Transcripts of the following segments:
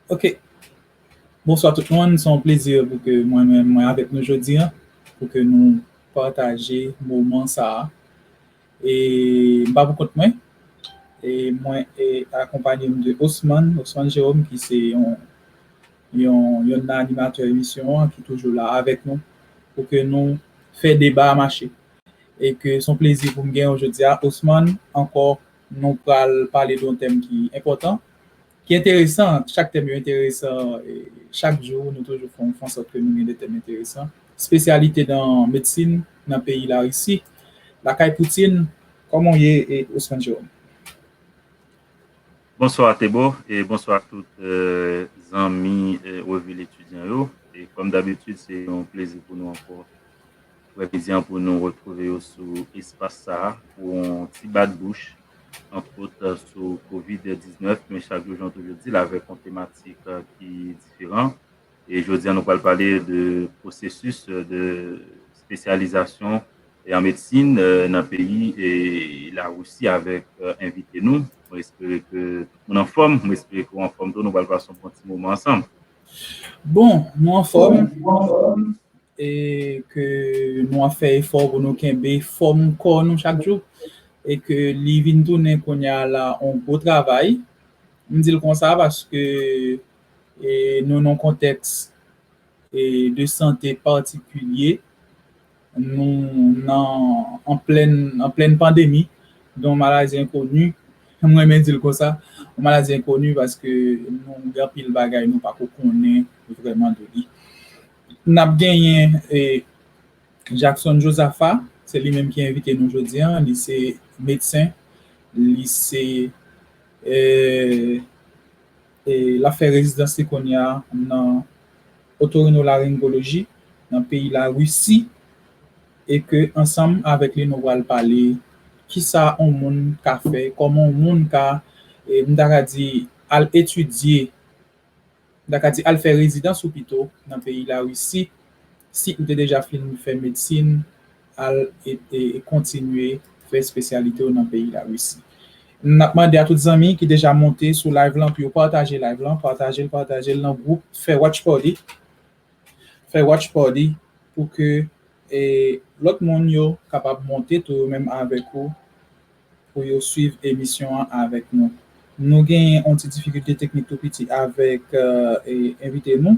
Ok, bonswa tout moun, son plezi pou ke mwen men mwen avèk nou jodi an, pou ke nou pataje moman sa a. E m pa pou kont mwen, e mwen e akonpanye m de Osman, Osman Jérôme ki se yon yon yonn nan animatè emisyon an ki toujou la avèk nou pou ke nou fè deba a mache. E ke son plezi pou m gen ou jodi a Osman ankò nou pral pale de yon tèm ki enpòtan, ki enteresan, chak tèm yo enteresan, chak jou nou toujou fè yon fè ansòt ke nou gen de tèm enteresan, spesyalite nan medsin nan peyi Larisi, lakay Poutine, kòman w ye Osman Jérôme? Bonswa Thébo, e bonswa ak tout zanmi revi L Etidyan yo, e kòm dabitid se yon plezi pou nou ankò Frè Vizian pou nou retwouve yo sou espas sa a pou yon ti bat bouch antwot sou kovid 19 men chak jou jan w toujou di l avèk yon tematik ki diferan e jodi a nou pral pale de pwosesis de spesyalizasyon an medsin nan peyi Larisi avèk envite nou mwen espere ke tout moun anfòm mwen espere ke w anfòm tou nou pral pase yon bon ti moman ansanm. Bon nou anfòm. e ke nou ap fè efò pou nou kenbe fòm kò nou chak jou e ke li vin tounen kounye a la yon gwo travay, m di l konsa paske nou nan yon kontèks de sante patikilye, nou nan an plèn an plèn pandemi don maladi enkoni, m renmen di l konsa, yon maladi enkoni paske nou gen anpil bagay nou pako konnen vrèman de li N ap genyen Jackson Josapha, se li menm ki envite nou jodi an, li se medsen, li se l ap fè rezidans li kounye a nan otorinolaryngoloji nan peyi Larisi e ke ansanm avèk li nou pral pale kisa on moun ka fè, kòman on moun ka m ta ka di al etidye. M ta ka di al fè rezidans ou pito nan peyi Larisi si ou te deja fin fè medsin al e kontinye fè spesyalite w nan peyi Larisi. N ap mande a tout zanmi ki deja monte sou live lan pou yo pataje live lan, pataje l pataje l nan gwoup, fè watch party, fè watch party pou ke lòt moun yo kapab monte tou yo menm avèk ou. pou yo swiv emisyon an avèk nou. Nou gen yon ti difikilte teknik tou piti avèk envite nou.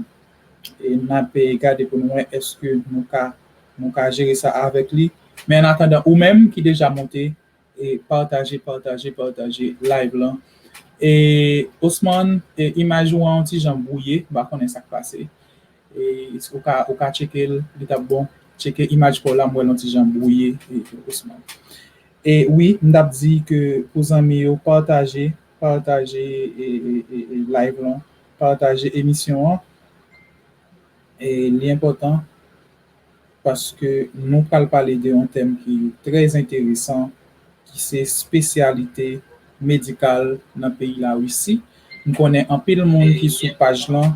E n ap gade pou nou wè èske nou ka nou ka jere sa avèk li. Men an atandan ou menm ki deja monte e pataje pataje pataje live lan. E Osman e imaj ou an yon ti jan bwouye m pa konnen sa k pase. Ou ka tcheke l li tap bon. Tcheke imaj paw la m wèl yon ti jan brouye Ousmane. E wi m tap di ke pou zanmi yo pataje pataje live lan pataje emisyon an e li enpòtan paske nou pral pale de yon tèm ki trè enteresan ki se spesyalite medikal nan peyi la Russie m konnen anpil moun ki sou paj lan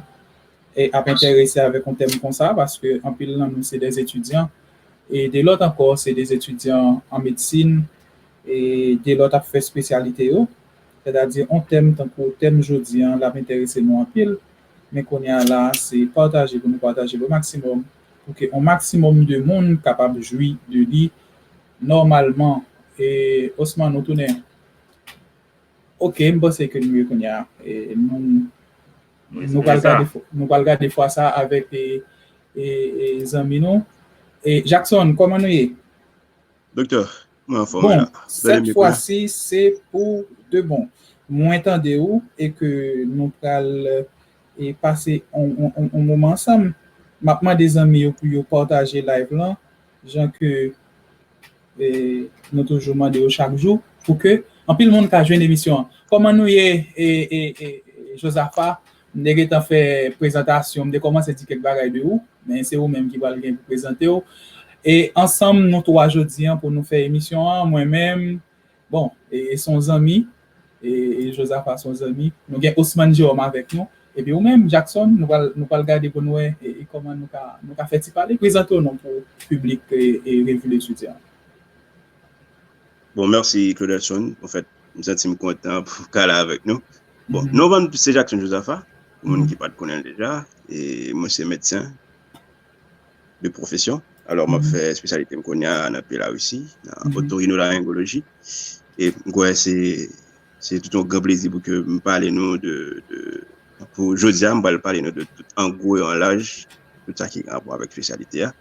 ap enterese avèk yon tèm konsa paske anpil nan nou se dè etidyan e de lòt ankò se de etidyan an medsin e de lòt ap fè spesyalite yo sètadi yon tèm tankou tèm jodi an lap enterese nou anpil men kounye a la se pataje pou nou pataje l o maksimòm pou ke yon maksimòm de moun kapab jwi de li nòmalman e Osman ou tounen ok m panse ke nou ye kounye a e nou. Nou pral gade, nou pral gade fwa sa avèk e, e, e zanmi nou. E Jackson, kòman nou ye? Doktè, mwen anfòm la. Bon, sèt fwa si se pou de bon. Mwen tande ou e ke nou pral e pase on, on, on, on moman ansanm. Map mande zanmi yo pou yo pataje live lan jan ke Nou toujou mande yo chak jou pou ke anpil moun ka jwenn emisyon an. Kòman nou ye Jozafa? M te gentan fè prezantasyon, m te kòmanse di kèk bagay de ou, men se ou menm ki pral gen pou prezante ou. E ansanm nou twa jodi an pou nou fè emisyon an, mwen menm, Bon, e se yon zanmi, e Jozafa se yon zanmi. Nou gen Osmann Jewòm avèk nou. Epi ou menm, Jaksonn, nou pral gade pou n wè kòman nou ka fè ti pale. Prezante w non pou piblik Revi Letidyan an. Bon, mèsi Claudelson. Anfèt, m santi m kontan pou m ka la avèk nou. Bon, non pa m se Jaksonn Jozafa, pou moun ki pa t konnen l deja. E mwen se medsen. de profesyon. Alò map fè espesyalite m konya nan peyi Larisi, nan otorinolaryngoloji. E m kwè se se tout yon gran plezi pou ke m pale nou de pou jodi a m pral pale nou de tout an gwo e an laj tout sa ki gen rapò avèk espesyalite a.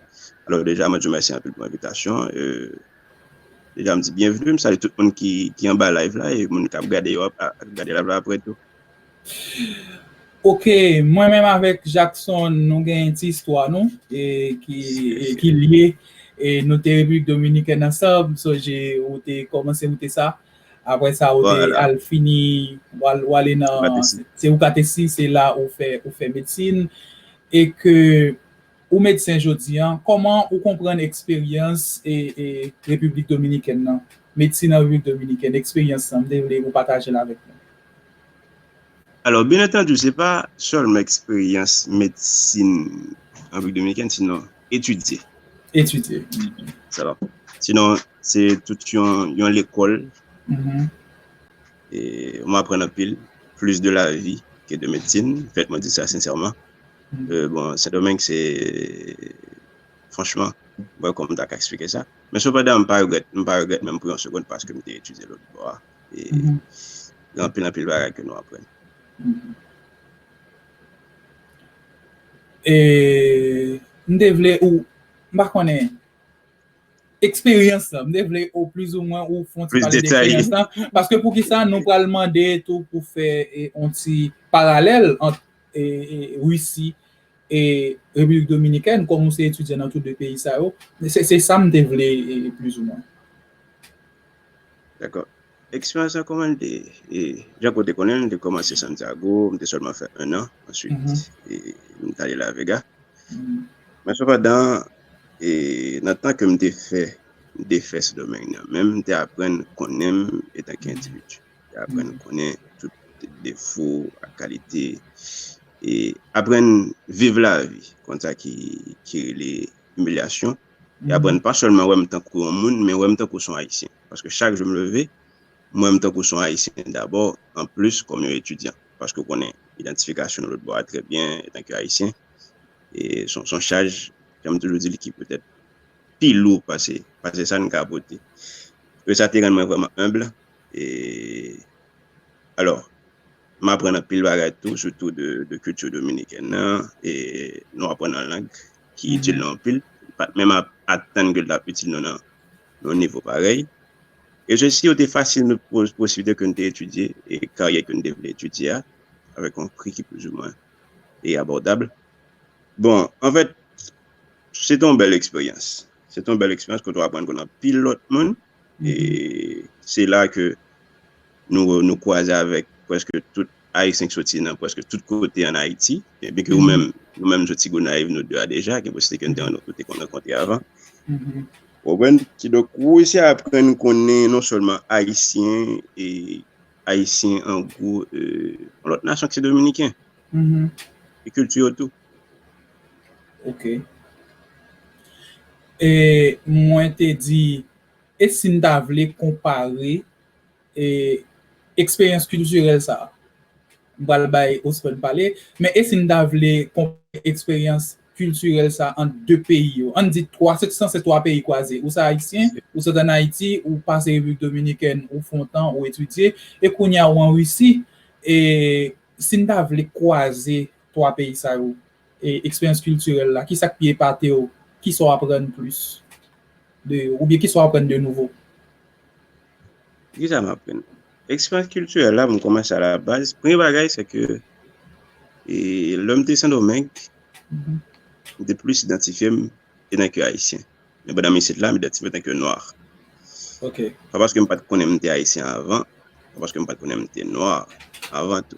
Alò deja mwen di w mèsi anpil pou envitasyon an. E deja m di byenvni, m salye tout moun ki anba live la e moun kap gade yo ap gade live la aprè tou. Ok mwen menm avèk Jackson nou gen yon ti istwa nou e ki e ki lye e nou te Repiblik Dominikèn ansanm so je ou te kòmanse ou te sa apre sa ou te al fini wal ou ale nan se ou katesi se la ou fè ou fè medsin e ke ou medsen jodi an kòman ou konprann eksperyans e e Repiblik Dominikèn nan medsin nan Repiblik Dominikèn eksperyans sa m te vle ou patajel avèk nou. Alò, byen antandi, se pa sèlman eksperyans medsin an Repiblik Dominikèn, sinon etidye. Etidye. Sinon, se tout yon lekòl. Mwen aprann anpil, plis de lavi ke de medsin, fèt mwen di sa sensèman. Bon, Sendomeng se, franchman, mwen pa konn mwen ta ka eksplike sa. Men sepandan, mwen pa regrèt, mwen pa regrèt menm pou yon segonn paske mwen te etidye lòtbò a. Gen anpil anpil bagay ke nou aprann. E, m te vle ou, m pa konnen, eksperyans lan, m te vle ou plis ou mwen ou fon ti pale de eksperyans lan, paske pou ki sa nou pral mande tou pou fè yon ti paralèl ant Russie e Repiblik Dominikèn, kòm ou se etidyan nan tou 2 peyi sa yo, se sa m te vle plis ou mwen. Dakò. Eksperyans lan kòman li te e jan ke w te konnen l? M te kòmanse Santiago, m te sèlman fè ennan, answit m t ale La Vega. Men sepandan, e nan tan ke m te fè, m te fè Sendomeng nan menm, m te aprann konnen m etanke endividi. M te aprann konnen tout defo ak kalite e aprann viv lavi konn sa ki rele imilyasyon. e aprè n pa sèlman wè m tankou yon moun men wè m tankou son Ayisyen paske chak jou m leve m wè m tankou son Ayisyen dabò anplis kòm yon etidyan paske w konnen idantifikasyon lòt bò a trè byen etan ke Ayisyen e son son chaj jan m toujou di l ki petèt pi lou pase pase sa n ka pote e sa te rann mwen vrèman humble e alò. M aprann anpil bagay tou, sitou de kilti dominikèn nan. E nou aprann yon lang ki itil nou anpil. Nou pa t menm atann ke l t ap itil nou nan yon nivo parèy. E se si yo te fasil nou posiblite ke nou te etidye e karyè ke nou te vle etidye a, avèk yon pri ki plizoumwen e abòdab. Bon, anfèt, se te yon bèl eksperyans. Se te yon bèl eksperyans kote w aprann konnen anpil lòt moun. E se la ke nou kwaze avèk pwèske tout Ayisyen ki soti nan pwèske tout kote an Ayiti. E byen ke ou menm, nou menm nou soti Gonayiv nou 2 a deja, gen posite ke nou te yon lòt kote kon rankontre avan. Ou konprann? Ki donk, ou resi aprann konnen non sèlman Ayisyen e Ayisyen an gwo, yon lòt nasyon ki se Dominiken. E kilti yo tou. Ok. E mwen te di, e si n ta vle konpare e eksperyans kiltirèl sa a? M pral bay Osmond pale, men e si n ta vle konpare eksperyans kiltirèl sa a ant de peyi yo? An n di twa, se san se twa peyi kwaze, ou se Ayisyen, ou sot ann Ayiti, ou pase Repiblik Dominikèn, ou fè yon tan, ou etidye, e kounye a ou an Risi. E si n ta vle kwaze 3 peyi sa yo e eksperyans kiltirèl la, kisa k pi epate w? Kisa w aprann plis de yo? Oubyen kisa w aprann de nouvo? Kisa m aprann? Eksperyans kiltirèl la, m kòmanse a la baz. Premye bagay se ke lè m te Sendomeng, m te plis idantifye m etanke Ayisyen. Men pandan m isit la, m idantifye m etanke Nwa. Pa paske m pa t konnen m te Ayisyen avan, pa paske m pa t konnen m te Nwa avan tou.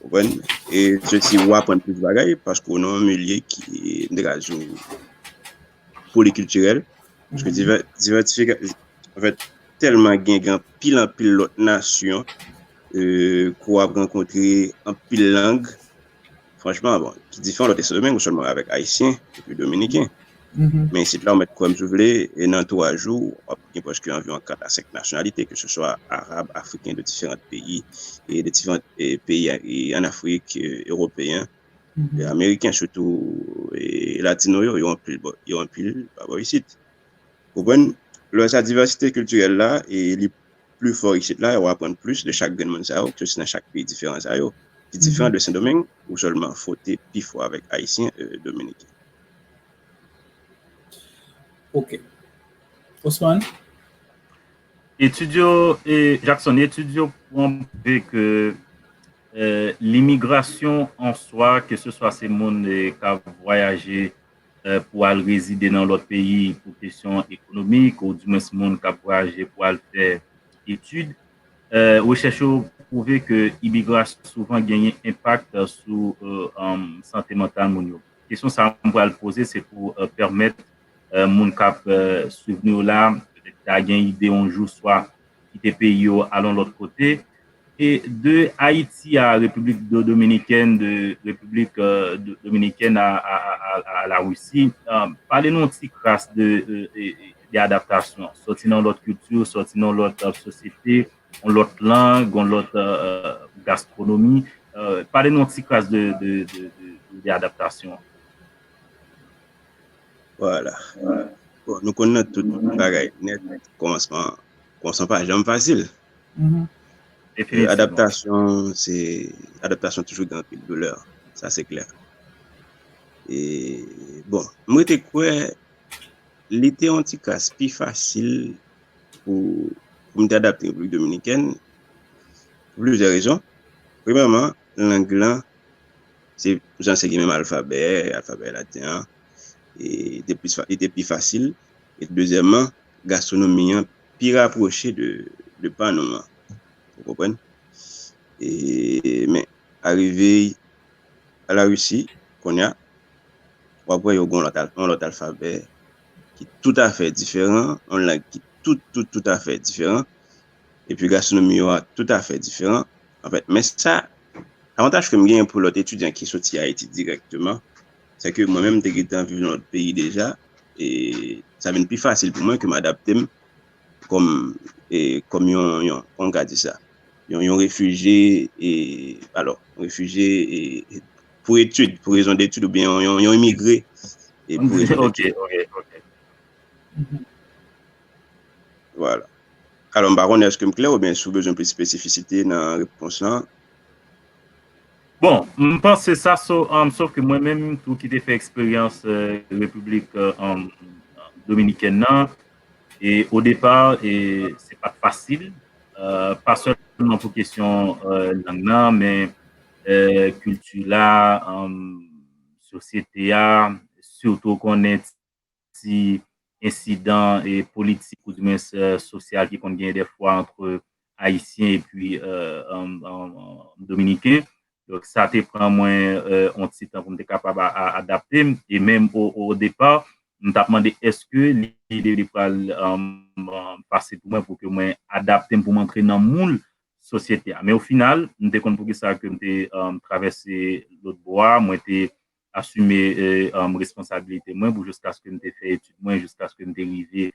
Konprann? E se si ou aprann plis bagay, paske ou nan yon milye ki, m te ka di w, polikiltirèl, paske divè, divètifika, anfèt, tèlman gen, gen anpil anpil lòt nasyon, ee, ke w ap rankontre, anpil lang, franchman, bon, ki diferan lòt Sendomeng, ou sèlman avèk Ayisyen, epi Dominiken. Men isit la, ou mèt kwè m si w vle, e nan 3 jou, w ap. gen prèske anviwon 4 a 5 nasyonalite ke se swa arab, afriken de diferant peyi e de diferant peyi an afrik, ewopeyen, ameriken sitou e latino yo, yo anpil bò yo anpil pa bò isit ou konprann, lò sa divèsite kiltirèl la e li pli fò isit la e ou aprann plis de chak grenn moun sa yo ke se nan chak peyi diferan sa yo ki diferan de sendomeng ou sèlman fwote pi fò avèk ayisyen e dominiken. Ok. Osman? Etid yo, Jackson, etid yo pwouve ke limigrasyon an swa, ke se swa se moun k ap vwayaje pou al rezide nan lòt peyi pou kesyon ekonomik ou di mwens moun k ap vwayaje pou al fè etid, rechèch yo pwouve ke imigrasyon souvan genyen enpak sou sante mantal moun yo. Kesyon sa a m pral poze se pou pèmèt moun kap swiv nou yo la petèt ta gen ide yon jou swa kite peyi yo al yon lòt kote e de Ayiti a Repiblik Dominikèn de Repiblik Dominikèn a la Risi pale nou yon ti kras de adaptasyon sòti nan yon lòt kilti sòti nan yon lòt sosyete yon lòt lang yon lòt gastronomi pale nou yon ti kras de adaptasyon. Voilà. Bon, nou konn nan tout bagay net kòmansman kòmansman pa janm fasil. Mm-hmm. Definitivman. Adaptasyon se adaptasyon toujou gen anpil doulè. Sa se klè. E bon, mwen te kwè li te yon ti kras pi fasil pou pou m te adapte República Dominikèn pou plizyè rezon. Premèman, lang lan Se pou sa se gen menm alfabè, alfabè laten an, e li te pi fasil, e dezyèman, gastwonomi an pi rapwoche de pa nou an, ou konprann? E men, arive a la Risi, konnya, w ap wè yo gen yon lòt alfabè ki toutafè diferan, yon lang ki tout, tout, toutafè diferan, Epi gastronomi yo a toutafè diferan. Anfèt, men sa, avantaj ke m genyen pou lòt etidyan ki soti Ayiti dirèkteman, se ke mwen menm m te gentan viv nan lòt peyi deja, e sa vin pi fasil pou mwen ke m adapte m kòm, e, kòm yon, yon, kòman m ka di sa? yon, yon refijye, e, alò, yon refijye, e, pou etid, pou rezon detid, oubyen yon, yon, yon imigre, e, pou rezon detid. Ok, ok, ok. Vwala. Alò m pa konnen èske m klè oubyen si w bezwen plis espesifisite nan repons lan. Bon, m panse sa so, sof ke mwen menm tou ki te fè eksperyans Repiblik Dominikèn nan, e o depa e se pa t fasil, pa sèlman pou kesyon lang nan men kilti la, sosyete a, sitou w konnen ti ensidan politik ou di mwens sosyal ki konn genyen dèfwa antre Ayisyen epi Dominiken. Donk sa te pran mwen yon ti tan pou m te kapab adapte m. E menm o depa, m t ap mande èske li te pral fasil pou mwen pou ke mwen adapte m pou m antre nan moul sosyete a. Men o final, m te konn poukisa ke m te travèse lotbo a. Mwen te asime responsabilite mwen pou jiskaske m te fè etid mwen, jiskaske m te rive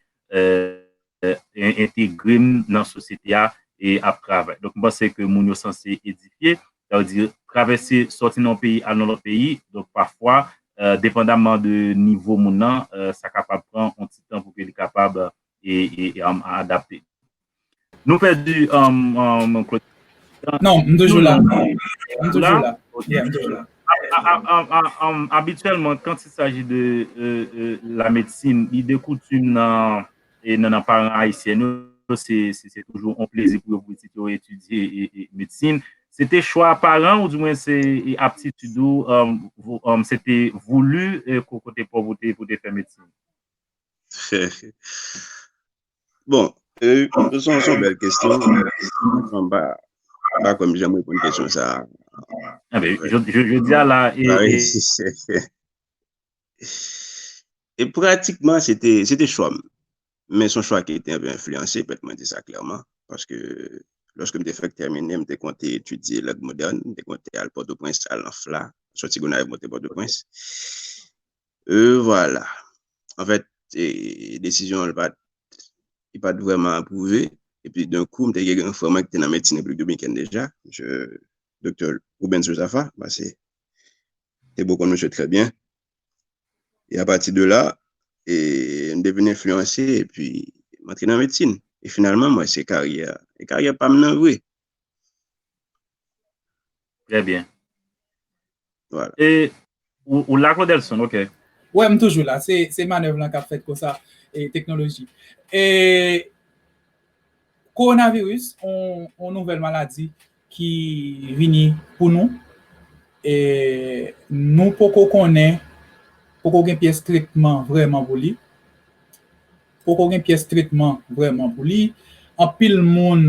entegre m nan sosyete a e ap travay. Donk m panse ke moun yo sanse edifye, sa vle di travèse sòti nan yon peyi al nan yon lòt peyi, donk pafwa depandamman de nivo moun nan sa kapab pran yon ti tan pou ke li kapab adapte. Nou pèdi Claude. Non, m toujou la. M toujou la. Abityèlman, kan ti saji de la medsin, li de koutim nan e nan nan paran ayisyen yo, se se toujou on plezi pou yo pou pitit yo etidye e medsin. Se te chwa paran ou di mwen se aptitid ou, se te voulu kote pauvreté pou te fè medsin? Bon, son son bèl kestyon. Mwen ba, ba kòm jèm repoun kestyon sa. Abe, je di ala e... E pratikman, se te, se te chòm. Men son chwa ki te anpe enfliyanse, pèt mwen di sa klèman. Paske, lòske mwen te fèk tèmine, mwen te konte etudye lèd modèn, mwen te konte al Pòtoprens, al nan FLA, soti Gonayiv monte Pòtoprens. E vwala. An fèt, desizyon an pat li pat vrèman apwouve. E pi dan kou m te gen yon frè mwen ki te nan medsin Repiblik Dominikèn deja, msye Doktè Rubens Josapha, m pase te bò konn msye trè byen. E apati de la, e m te vin enfliyanse e pi m antre nan medsin. E finalman m wè se karyè, e karyè pa m nan vre. Trè byen. E, ou la Claudelson, ok. Wè, m toujou la. Se manèv lan k ap fèt konsa, e teknoloji. E, kowonaviris, yon nouvèl maladi ki vini pou nou. E, nou poko konnen, poko gen pyès tretman vrèman pou li. Poko gen pyès tretman vrèman pou li. Anpil moun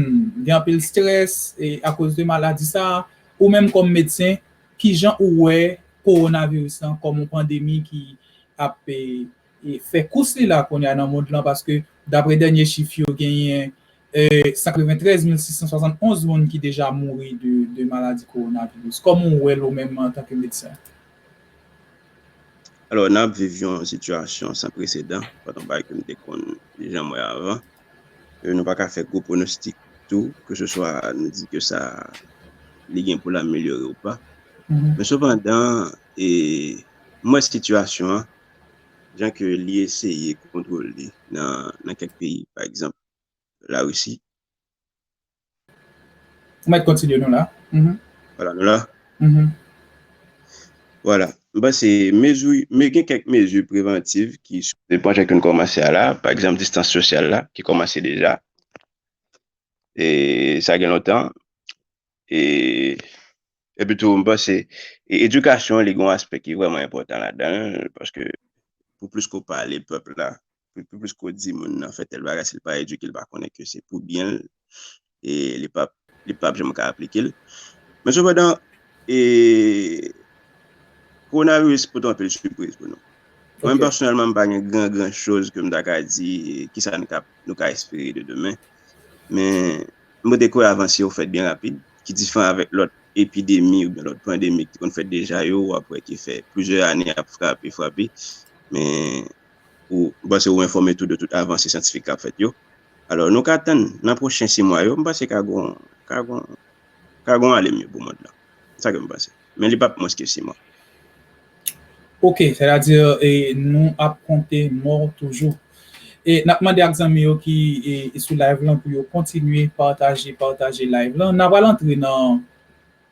gen anpil strès akoz de maladi sa. Ou menm kòm medsen, kijan ou wè kowonaviris lan kòm yon pandemi ki ap fè kous li la kounya nan mond lan paske dapre dènye chif yo genyen 93 mil 671 moun ki deja mouri de maladi kowonaviris. Kòman ou wè l ou menm antanke medsen? Alò, n ap viv yon sitiyasyon san presedan, pa nan bagay ke m te konn janm wè avan. Nou pa ka fè gwo pwonostik tou, ke se swa nou di ke sa li gen pou l amelyore ou pa. Men sepandan, m wè sitiyasyon an, jan ke li eseye kontwole nan kèk peyi, pa egzanp, la risi. Ou mèt kontinye nou la. Wala nou la. Wala. M panse mezi, me gen kèk mezi prevantiv ki. Se pwojè ke nou kòmanse a la. Pa egzanp distans sosyal la ki kòmanse deja. E sa gen lontan. E epi tou m panse edikasyon li gen yon aspè ki vreman enpòtan ladan l. Paske pou plis ke w pale pèp la. piplis ko di moun nan fè tèl bagay si li pa edike li pa konnen ke se pou byen l e li pap li pap janm ka aplike l men sepandan e kowonaviris pote anpil sipriz pou nou mwen pèsonèlman m pa gen gran gran choz ke m ta ka di kisa n ka nou ka espere de demen men m pote kwè avans yo fèt byen rapid ki difran avèk lòt epidemi oubyen lòt pandemi ki te konn fèt deja yo wap wè ki fè plizyè ane ap frape frape men ou m panse ou enfòme tou de tout avanse syantifik k ap fèt yo. Alò nou ka atann nan pwochen si mwa yo m panse ka gon ka gon ka gon ale mye pou mond lan. Se sa ke m panse. Men li p ap mwens ke si mwa. Ok, sètadi e nou ap konte mò toujou. E n ap mande ak zanmi yo ki e sou live lan pou yo kontinye pataje pataje live lan. N a pral antre nan.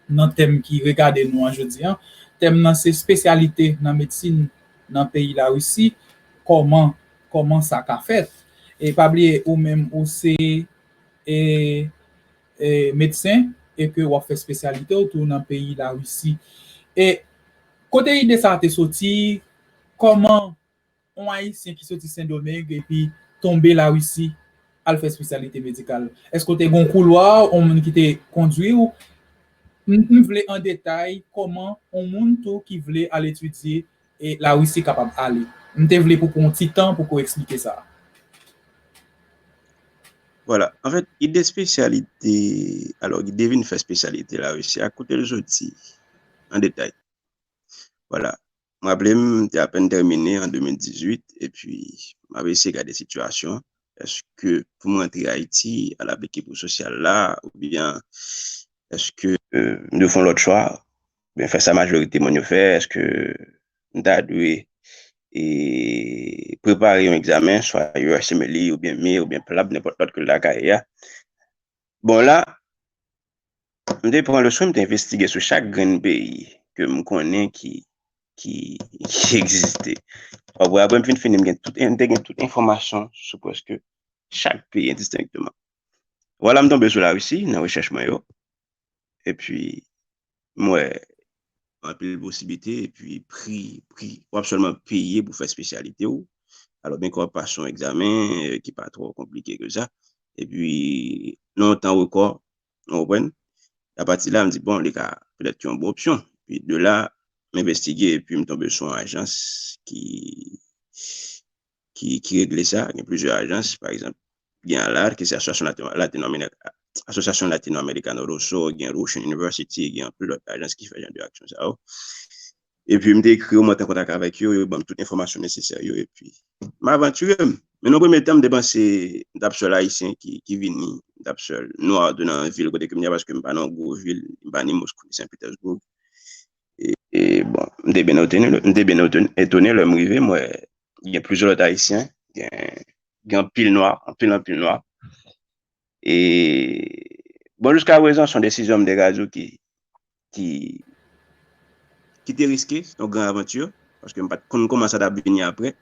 nan tèm ki regade nou an jodi an. Tèm nan se spesyalite nan medsin nan peyi Larisi, kòman kòman sa ka fèt. E pa bliye ou menm ou se e e medsen e ke w ap fè spesyalite w tou nan peyi Larisi. E kote ide sa te soti, kòman. On Ayisyen ki soti Sendomeng epi tonbe Larisi al fè spesyalite medikal. Eske w te gen yon koulwa, yon moun ki te kondwi w? M vle an detay kòman yon moun tou ki vle al etidye Larisi kapab ale. M te vle pou pran yon ti tan pou ke w eksplike sa. Vwala. Anfèt, ide spesyalite, alò ide vin fè spesyalite Larisi a, kote l soti? An detay. Vwala. M raple m, m te apèn tèmine an 2018 epi m ap eseye gade sitiyasyon èske pou m rantre Ayiti al aplike pou sosyal la oubyen èske m dwe fè yon lòt chwa oubyen fè sa majorite moun yo fè èske m ta dwe prepare yon egzamen swa USMLE oubyen mir oubyen PLAB nenpòt lòt ke l lakay bon la M te pran le swen m te envestige sou chak grenn peyi ke m konnen ki ki egziste. Wap wè apre m fin fini m gen tout m te gen tout enfòmasyon sou prèske chak peyi endistenkteman. Vwala m tonbe sou Larisi nan rechèch mwen yo. E pi M wè anpil posiblite epi pri pri w ap sèlman peye pou fè espesyalite w. Alò byenke w ap pase yon egzamen ki pa twò konplike ke sa epi nan yon tan rekò, ou konprann. Apati la m di bon li ka petèt yon bon opsyon. Epi de la m envestige epi m tonbe sou yon ajans ki ki ki regle sa, gen plizyè ajans, pa egzanp, gen ALAR ki se Asosyasyon Latino-Amerikano Asosyasyon Latino-Amerikano Rosso, gen Russian University, gen anpil lòt ajans ki fè jan de aksyon sa yo. Epi m te ekri yo, m antre an kontak avèk yo, yo ban m tout enfòmasyon nesesè yo, epi m avanture m. Men nan premye tan, m te panse m t ap sèl Ayisyen ki ki vini, m t ap sèl Nwa tou nan vil kote ke m ye a, paske m pa nan yon gwo vil, m pa ni Moskou ni Sen Petersbourg. E bon, m te byen otone, m te byen etone lè m rive, m wè gen plizyè lòt ayisyen, gen anpil nwa, anpil anpil nwa. E bon, jiska prezan, son desizyon m de Gazou ki ki ki te riske, son gran avantur, paske m pa t konn kouman sa t ap vini apre,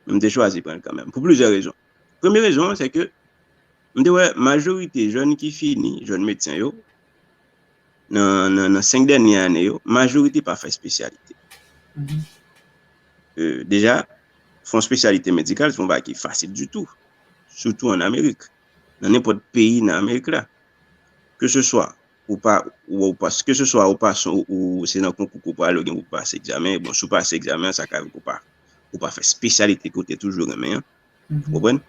men m te chwazi pran l kanmenm, pou plizyè rezon. Premye rezon an, se ke m te wè majorite jèn ki fini, jèn medsen yo, Nan 5 dènye ane yo, majorite pa fè spesyalite. Deja, fè yon spesyalite medikal se yon bagay ki fasil ditou, sitou an Amerik, nan nenpòt peyi nan Amerik la. Ke se swa ou pa, ke se swa ou pa, se nan konkou ke ou prale ou gen pou pase egzamen, bon si ou pase egzamen an sa ka vle di ou pa fè spesyalite ke ou te toujou renmen an. Konprann?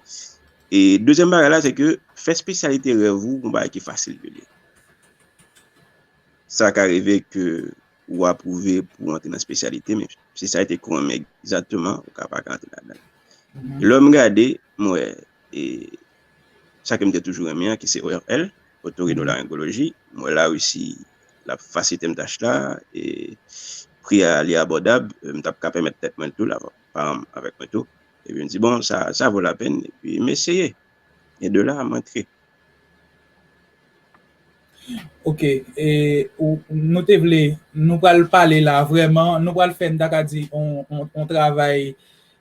E dezyèm bagay la se ke fè spesyalite rèv ou yon bagay ki fasil vre li. Sa ka rive ke ou apwouve pou antre nan spesyalite men spesyalite ke w renmen egzatteman ou ka pa ka antre ladan l. Lè m gade m wè e sa ke m te toujou renmen an ki se ORL, Otorinolaryngoloji, m wè la resi l ap fasilite m tach la e pri a li abòdab, m t ap ka pèmèt tèt mwen l tou la. paran m avèk mwen tou. Epi m di, bon, sa, sa vo lapenn, epi m eseye. E de la, m antre. Ok, e ou, nou te vle, nou pral pale la vrèman, nou pral fè, m ta ka di, on, on, on travay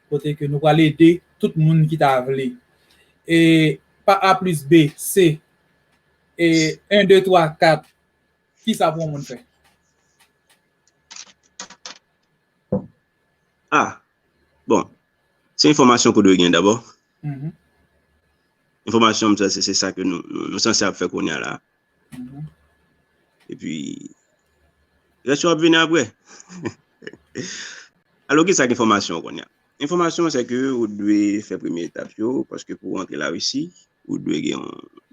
kote ke nou pral ede tout moun ki ta vle. E pa A plis B, C. E 1, 2, 3, 4, kisa pou on moun fè? A, bon, se enfòmasyon kou dwe gen dabò. Enfòmasyon sa se sa ke nou sanse ap fè kounye a la. E pi, rès yo ap vini apre. Alò ki sa ki enfòmasyon kounye a? Enfòmasyon se ke ou dwe fè premye etap yo, paske pou antre la Risi, ou dwe gen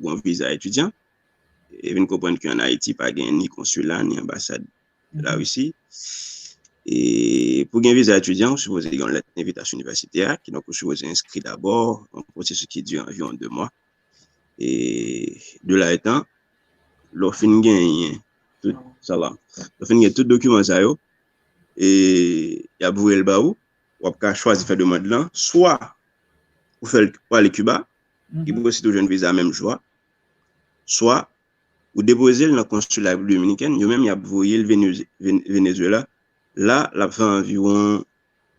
yon viza etidyan. E vin konprann ki an Ayiti pa gen ni konsila, ni anbasad la Risi. E pou gen viza etidyan, ou sipoze gen yon lèt envitasyon inivèsite a, kidonk ou sipoze enskri dabò, yon pwosesis ki dire anviwon 2 mwa. E de la etan, lè w fin genyen tout, Salam, lè w fin genyen tout dokiman sa yo, e y ap voye l ba ou, w ap ka chwazi fè demand lan, swa ou fè l pou ale Kiba, ki pou ositou jwenn viza menm jou a, swa Ou depozel nan konsila Repiblik Dominikèn, yo menm yap voyel Venezuela, la lap fè anviwon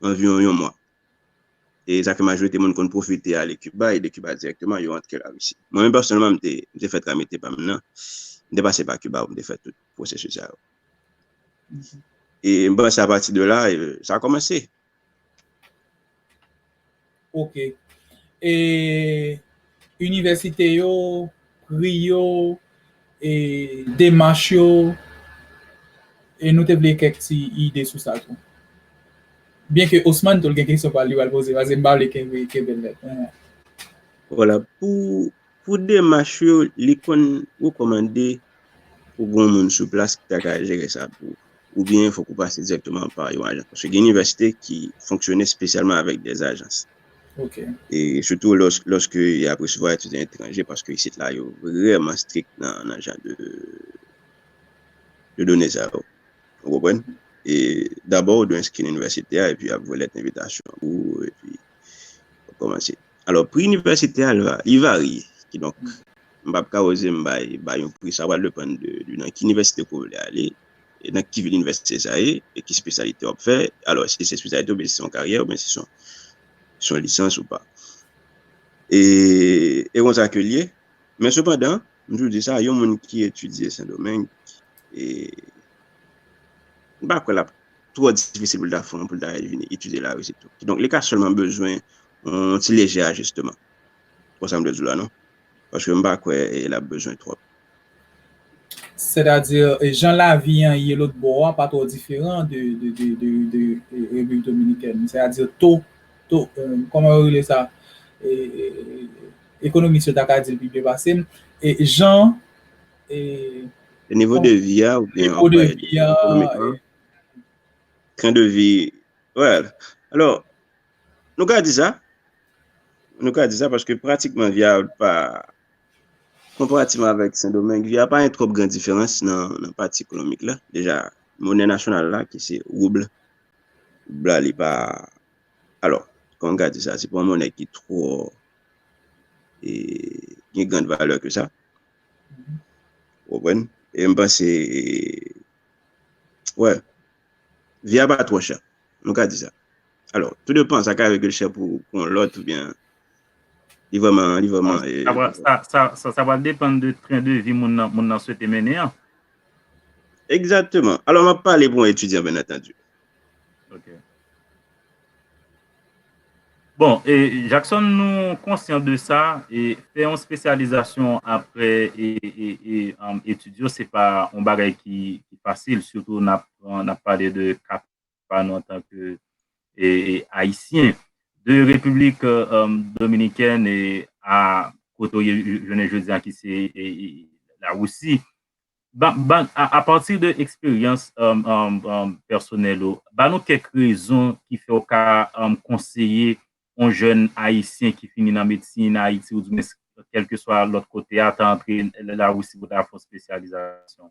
anviwon yon mwa. E sa ke majorite moun konn pwofite ale Kiba e de Kiba dirèkteman yo antre Larisi. Mwen menm pèsonèlman m te m te fè tramite pa m nan, m te pase pa Kiba pou m te fè tout pwosesis sa yo. E m panse apati de la sa kòmanse. Ok. E inivèsite yo, pri yo, e demach yo, e nou te vle kèk ti ide sou sa tou. Byen ke Osman tou l gen kesyon pa l li pral poze, pase m pa vle kenbe l nèt. Wala pou Pou demach yo, li konn rekòmande pou gen yon moun sou plas ki ta ka jere sa pou ou. Oubyen fòk ou pase dirèkteman pa yon ajans. Paske gen inivèsite ki fonksyone spesyalman avèk des agences. Ok. E sitou lòske y ap resevwa etidyan etranje paske isit la yo vrèman strik nan jan de de done sa yo. Ou konprann? E dabò ou dwe enskri nan inivèsite a epi y ap voye lèt envitasyon pou ou epi w ap kòmanse. Alò pri inivèsitè a li varye ki donk m pap ka oze m bay bay yon pri sa pral depann de nan ki inivèsite ke w vle ale e nan ki vil inivèsite sa ye e ki spesyalite wap fè alò eske se spesyalite oubyen si se yon karyè oubyen si se yon lisans ou pa e e konsa ke l ye men sepandan m toujou di sa yon moun ki etidye sendomeng e m pa kwè lap twò difisil pou l ta fon pou l ta vini etidye larisi tou ki donk li ka sèlman bezwen Yon ti lejè ajisteman. Konsa m dwe di w la non. Paske m pa kwè l ap bezwen twòp. Sètadi, jan lavi an ye lotbò a pa twò diferan de Repiblik Dominikèn. Sètadi to, to, kòman yo rele sa? Ekonomis yo ta ka di l pi byen pase m. Jan. Nivo de vi a oubyen. Nivo de vi a. Tren de vi. Well, alò, Nou ka di sa, nou ka di sa paske pratikman via pa konparativman avèk Sendomeng, via pa yon twòp gran diferans nan pati ekonomik la. Deja, monè nasyonal la ki se rouble, rouble la li pa, alò, kòman ka di sa, se pa yon monè ki twò e gen grand valè ke sa. Ou konprann? E m panse, wè, via pa twò chè. Nou ka di sa. Alò, tou depan, sa ka règle chè pou yon lòt ou byen li vreman, li vreman... Sa va depan de tren de vi moun nan swete mennen an. Egzateman. Alò, m ap pale pou yon etidyan byen antandi. Ok. Bon, e Jackson nou konsyan de sa, e fè yon spesyalizasyon apre etid yo se pa yon bagay ki fasil, sitou nan pale de 4 pa nou antan ke Ayisyen. De Repiblik Dominikèn a kote ou ye jounen jodi a ki se Lawousi, apati de eksperyans pèsonèl ou, ba nou kèk rezon ki fè ou ka konseye yon jèn Ayisyen ki fini nan medsin nan Ayiti oubyen kèlkeswa lòt kote a ta antre Lawousi pou ta fè yon espesyalizasyon.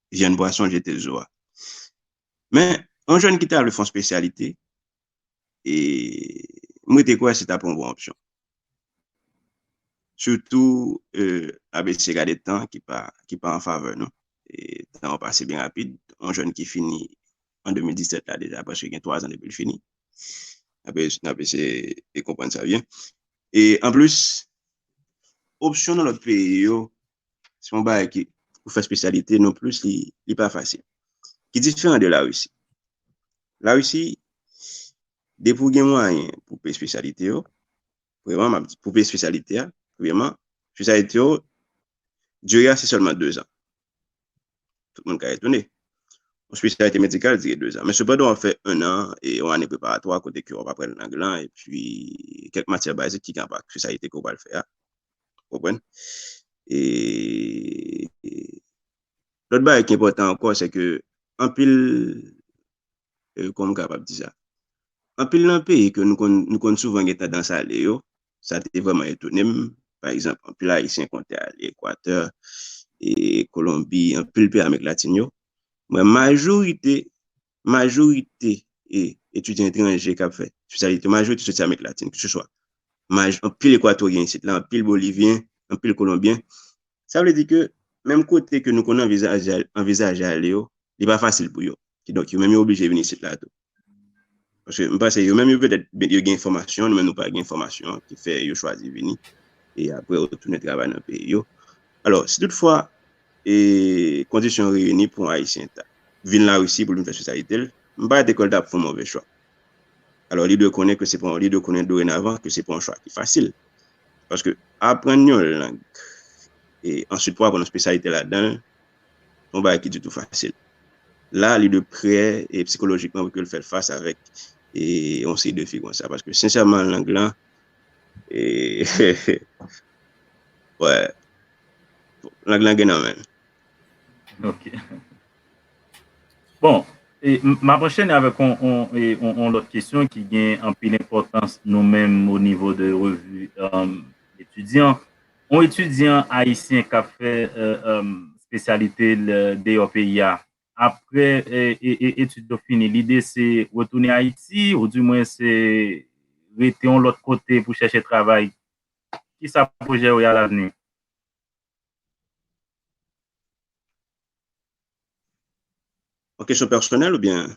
vyann pwason jete zo a. Men, yon jèn ki ta vle fon spesyalite, e m rete kwè se ta pon bon opsyon. Soutou, ABC gade tan ki pa an favè nou. Tan an pase byen rapid. Yon jèn ki fini an 2017 la deja prèske gen 3 zan depi l fini. ABC nan konprann sa byen. E anplis, opsyon nan lòt peyi yo Se yon bagay ki pou fè spesyalite non plis li pa fasil. Ki diferan de la Russie. La Russie, depi ou gen mwayen pou peye spesyalite yo, pou peye spesyalite a, spesyalite yo, diri a se sèlman 2 zan. Tout moun ka etone. Yon spesyalite medikal diri 2 zan. Men sepandan w ap fè 1 an, yon ane preparatwa kote ki w ap aprann lang lan, epi kèk matyè bazik ki gen rapò ak spesyalite ke w pral fè a. Konprann? E lòt bagay ki enpòtan ankò se ke anpil kòman m kapab di sa? Anpil nan peyi ke nou konn souvan gen tandans ale yo, sa te vrèman etone m, pa egzanp anpil ayisyen konn te ale Ekwatè, Kolonbi, anpil peyi amerik latin yo, mwen majorite majorite etidyan etranje kap fè espesyalite yo majorite soti amerik latin ke se swa anpil ekwatoryen isit la anpil bolivyen anpil kolonbyen sa vle di ke menm kote ke nou konnen anvizaje ale yo li pa fasil pou yo ki donk yo menm yo oblije vini isit la tou paske m panse yo menm yo petèt yo gen enfòmasyon nou menm nou pa gen enfòmasyon ki fè yo chwazi vini e apre yo tounen travay nan peyi yo alò si tout fwa E kondisyon reyini pou yon Ayisyen ta. Vin Larisi pou l vin fè espesyalite l, m pa rete kwè l ta ap fè yon move chwa. Alò li dwe konnen ke se pa yon, li dwe konnen dorenavan ke se pa yon chwa ki fasil. Paske aprann yon lang, e answit pou aprann yon espesyalite ladan l, se yon bagay ki ditou fasil. La li dwe prè e psikolojikman pou ke l fè fas avèk e yon seri defi konsa. Paske sensèman lang lan, e, wè. Lang lan gen nan menl. Ok. Bon, m ap anchène avèk yon lòt kesyon ki gen anpil enpòtans nou menm o nivo de revi etidyan. Yon etidyan ayisyen k ap fè espesyalite l deyò peyi a, aprè etid yo fini, lide se retounen Ayiti ou di mwen se rete yon lòt kote pou chèche travay Ki sa pwojè ou ye alavni? Yon kesyon pèsonèl oubyen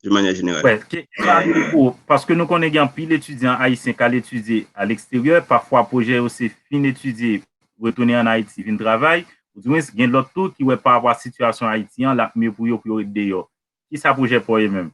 de manyè jeneral? Wè, ki sa ki pou ou? Paske nou konnen gen anpil etidyan ayisyen k al etidye aleksteryè, pafwa pwojè yo se fin etidye, retounen ann Ayiti vin travay, oudiwens gen lòt tou ki wè parapò a sitiyasyon Ayiti an l ap mye pou yo pou yo ret deyò. Ki sa pwojè pa w ye menm?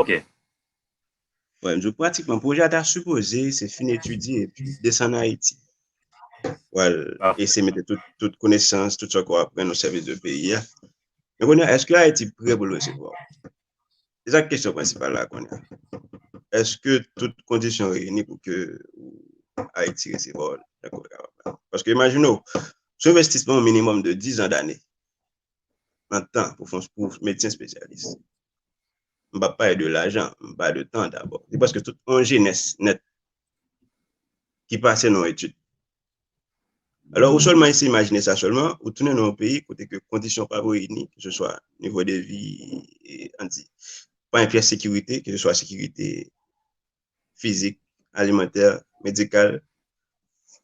Ok. Wè, m di w pratikman pwojè a ta sipoze se fin etidye epi desann Ayiti. Pou al ese mete tout konesans, tout sa ke w aprann o sèvis de peyi a. Men kounye a, èske Ayiti pre pou l resevwa w? Se sa k kesyon prensipal la kounye a. Èske tout kondisyon reyini pou ke Ayiti resevwa w nan kote a la? Paske imajine w, se envestisman minimòm de dizan dane nan tan pou fon pou medsen spesyalis. M pap pale de lajan, m pale de tan dabò. Se prèske tout yon jenès nèt ki pase nan yon etid. Alò ou sèlman eseye imajine sa sèlman, ou tounen nan yon peyi kote ke kondisyon pa reyini, ke se swa nivo de vi, an di, pa yon pyès sekirite, ke se swa sekirite fizik, alimantè, medikal,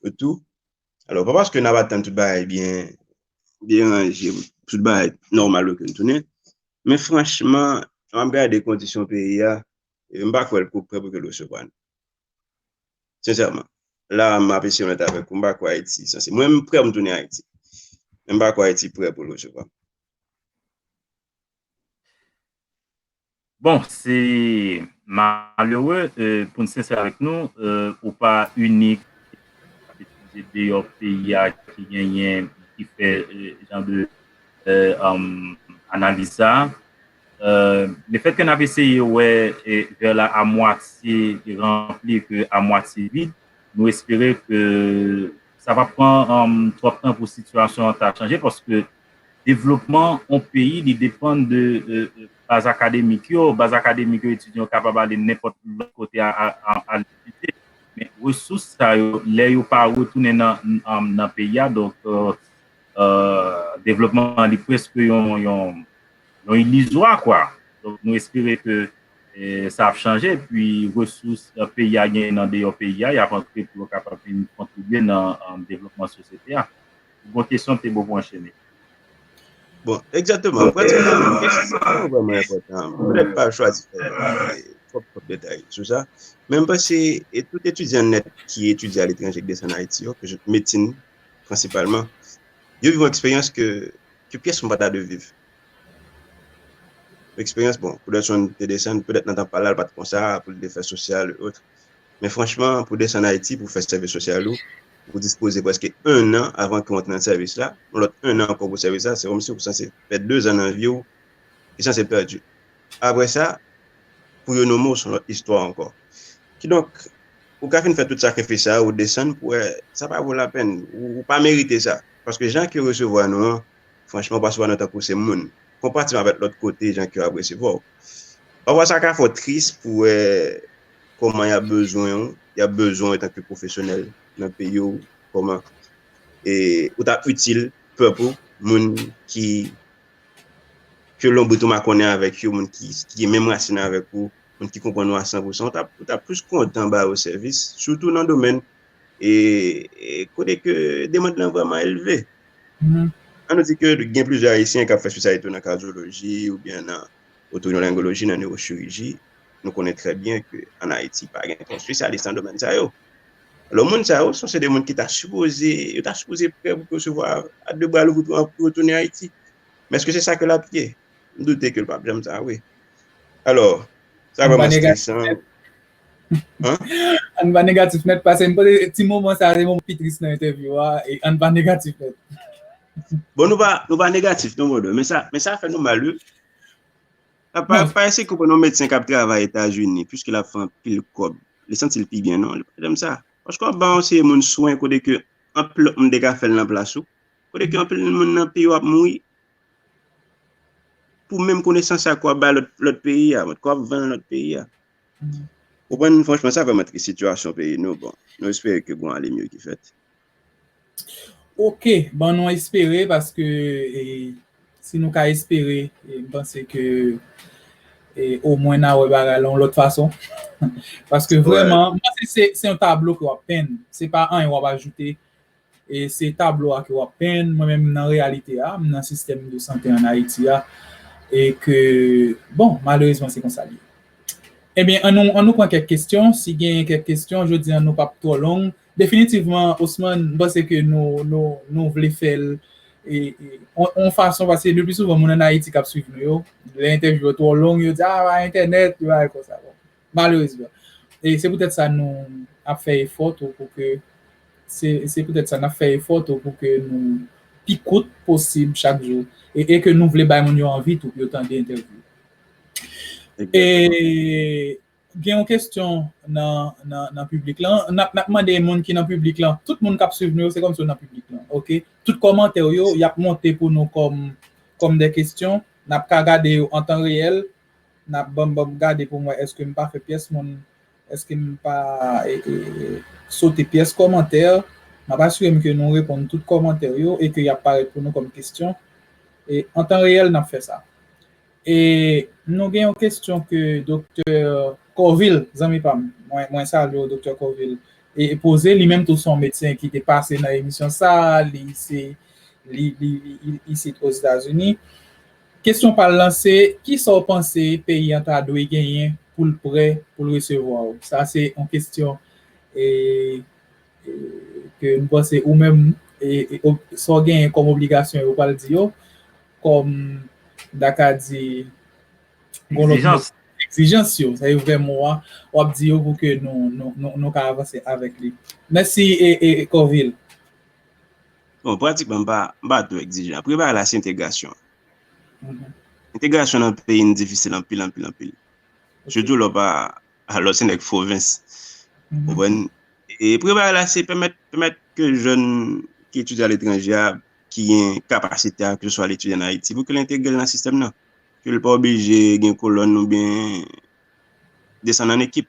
yo tou. Alò, pa paske nap atann tout bagay byen deranje, tout bagay nòmal yo ke n tounen, men franchman, lè map gade kondisyon peyi a, m pa kwè l ko prè pou ke l resevwa nou. Sensèman. La a, map eseye onèt avèk ou, m pa kwè Ayiti sanse, mwen m prè pou m tounen Ayiti, men m pa kwè Ayiti prè pou l resevwa m. Bon se malere pou n sensè avèk nou ou pa inik se deyò peyi a ki genyen ki fè jan de analiz sa le fèt ke n ap eseye wè vè la a mwatye ranpli ke a mwatye vid nou espere ke sa pa pran twòp tan pou sitiyasyon an ta chanje paske Devlopman on peyi li depann de baz akademik yo, baz akademik yo etidyan yo kapab ale nenpòt lòt kote al etidye men resous sa yo lè yo pa retounen nan peyi a donk devlopman an li prèske yon ilizwa kwa donk nou espere ke sa ap chanje epi resous peyi a genyen andeyò peyi a y ap antre pou yo kapab vin kontribye nan devlopman sosyete a. Bon kesyon te bo pou anchene. Bon, egzateman, pratik la, kesyon sa a vreman enpotan. M pèt m pa chwazi fè twòp twòp detay sou sa, men m panse e tout etidyan nèt ki etidye aletranje ki desann Ayiti yo, medsin prensipalman, yo viv yon eksperyans ke pyès moun pa ta dwe viv. Eksperyans, bon, pou Dutchon te desann, petèt nan tan pa l la, l pa t konsa pou l te fè sosyal e otre. Men franchman pou desann Ayiti pou fè sèvis sosyal ou, ou dispoze prèske 1 an avan ke w antre nan sèvis la, yon lòt 1 an ankò pou sèvis la, se kòmsi ou sanse pèdi 2 zan nan vi w ki sanse pèdi. Apre sa, pou yo nome w se yon lòt istwa ankò. Kidonk, ou ka fin fè tout sakrifis sa yo, ou desann pou wè sa pa vo lapèn, ou pa merite sa. Paske jan ke yo resevwa nou an, Franchman pastè Wano tankou se moun Konpa ti map et lot kote jan kew ap resevwaw Pafwa sa ka fèw tris pou wè Koman yap bezwenw yap bezwenw etanke pwofesyonèl nan peyiw Koman e ou ta itil pèp ou moun ki ke lonbrit ou makonnen avèk yo moun ki gen menm rasin avèk ou moun ki konprann ou a 100 pousan ou ta plis kontan ba yo sèvis sitou nan domèn e kote ke demand lan vreman elve. An nou di ke gen plizye ayisyen kap fè spesyalite yo nan kadyoloji ou byen nan otorinolaringoloji, nan newochiriji, nou konnen trè byen ke an Ayiti pa gen twòp spesyalis nan domèn sa yo. Lò moun sa yo, son se de moun ki ta sipoze, yo ta sipoze prè pou resevwa a de bra louvri pou yo tounen Ayiti. Men eske se sa ke lap ye? M doute ke l pap janm sa vre. Alò, sa vreman stresan. Ann pa negatif nèt pase m panse ti moman sa se moman pi tris nan entèvyou a e ann pa negatif nèt. Bon nou pa nou pa negatif non brother men sa men sa fè nou mal wi. Pa pa pa ese koupe nou medsen kap travay Etazini puiske la fè pil kob. Li santi l pi byen non li pa janm sa. Paske wap ban yon seri moun swen kote ke anpil lòt moun te ka fèl nan plas ou. Kote ke anpil moun nan peyi wap mouri pou menm konesans sa ke wap bay lòt lòt peyi a, ke wap vann lòt peyi a. Ou konprann franchman sa fèm antre sitiyasyon peyi nou bon nou espere ke gon ale mye ki fèt. Ok bon nou espere paske si nou ka espere m panse ke o mwen na wè bagay la yon lòt fason paske vrèman m panse se yon tablo ke wap penn se pa anyen wap ajoute E se tablo a ke wap penn, mwen menm nan reyalite a, m nan sistèm de sante an Ayiti a, e ke, bon, malerezman se konsa li ye. Ebyen, an nou, an nou pran kèk kestyon, si genyen kèk kestyon, jodi an nou pap twò long. Definitivman, Osman, m panse ke nou, nou, nou vle fè l, e, e, on, on fason, paske le pli souvan moun an Ayiti kap swiv nou yo, lè entèvyou yo twò long, yo di, a, pa entènèt, yo bay konsa, bon. Malerezman. E se poutèt sa nou ap fè efò tou pou ke, se se poutèt sa n ap fè efò tou pou ke nou pi kout posib chak jou e e ke nou vle bay moun yo anvi tou pou yo tande entèvyou. E gen yon kesyon nan nan nan piblik lan, n ap n ap mande moun ki nan piblik lan, tout moun k ap swiv nou yo se kòmsi yo nan piblik lan ok. Tout kòmantè w yo y ap monte pou nou kòm kòm dè kesyon, n ap ka gade yo an tan reyèl Nap banm banm gade poum wè eske m pa fè pyès moun eske m pa sote pyès kòmantè map asirem ke nou reponn tout kòmantè yo e ke yap parèt pou nou kòm kestyon e an tan reyèl nap fè sa e nou gen yon kestyon ke doktè kòvil zanmi pam mwen salye w doktè kòvil e poze li menm tou son medsen ki te pase nan emisyon sa li se li isit o Zeta Zini. Kesyon pa l lan se, Ki sa w panse peyi an ta dwe genyen pou l prè pou l resevwa w? Sa se yon kesyon ke m panse ou menm, sa w genyen kòm obligasyon yo pral di yo, kòm m ta ka di, yon lòt mo, egzijans yo, sa se vrè mo a, w ap di yo pou ke nou ka avanse avèk li. Mèsi Corvil. Bon, pratikman m pa two egzijan. Premye bagay la se entegrasyon. Entegrasyon nan peyi n difisil anpil, anpil, anpil. Sitou lè w pa, lè w se nèg pwovens. Konprann? E premye bagay la se pèmèt, pèmèt ke jèn ki etidye aletranje a, ki gen kapasite a, ke se swa al etidye an Ayiti, pou ke l entegre l nan sistèm nan. Ke l pa oblije gen kolòn oubyen desann an ekip.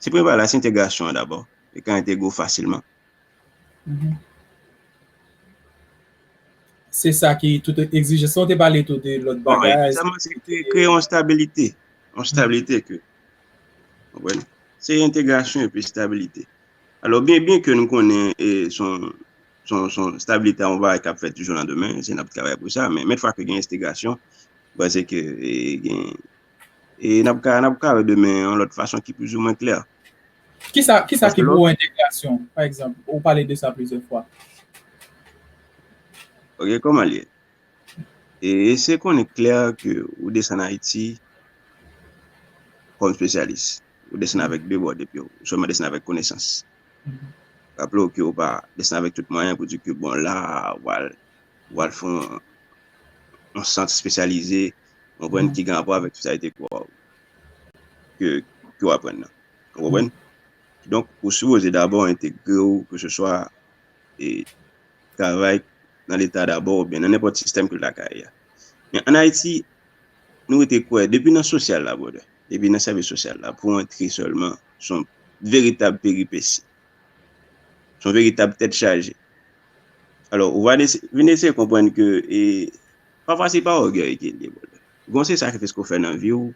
Se prevalas entegrasyon an dabò, li ka entegre w fasilman. Se sa ki tout egzijans lan. Ou te pale tou de lòt bagay. Bon, egzijans lan se te kreye yon stabilite. Yon stabilite ke, konprann? Se entegrasyon epi stabilite. Alò, byen byen ke nou konnen son stabilite a yon bagay k ap fèt dijoun an demen, se n ap travay pou sa, men fwa ke gen enstegrasyon, ba se ke gen E n ap ka n ap ka wè demen yon lòt fason ki plizoumwen klè. Ki sa ki sa ki pou ou entegrasyon pa egzanp? Ou pale de sa plizyè fwa. Ok kòman l ye? E eseye konnen klè ke ou desann Ayiti kòm spesyalis. Ou desann avèk de bò de pye w. Ou sèlman desann avèk konesans. Raple w ke ou pa desann avèk tout mwayen pou di ke bon la a ou pral ou pral fè yon sant spesyalize. Konprann ki gen rapò avèk sosyalite ke wap ke ke wap aprann nan. Ou konprann? Donk ou sipoze dabò entegre ou ke se swa e travay nan leta dabò oubyen nan nenpòt sistèm ke lakay a. Men an Ayiti nou rete kwè depi nan sosyal la brother, depi nan sèvis sosyal la pou antre sèlman son veritab peripesi. Son veritab tèt chaje. Alò ou va vin eseye konprann ke e Pafwa se pa ògèy ki ede moun. Gen yon seri sakrifis ke w fè nan vi w,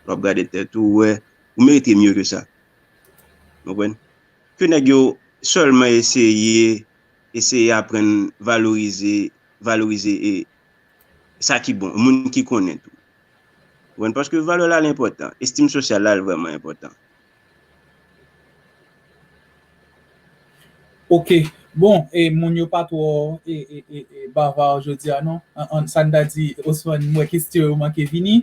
w ap gade tèt ou, w wè ou merite mye ke sa. Ou konprann? Ke nèg yo sèlman eseye, eseye aprann valorize, valorize e sa ki bon, moun ki konnen tou. Ou konprann? Paske valè la al enpòtan, estim sosyal la al vrèman enpòtan. Ok, bon, e moun yo pa twò e, e, e, e bava jodi a non. An, an, sa n ta di, Osman, m wè kestyon yo manke vini.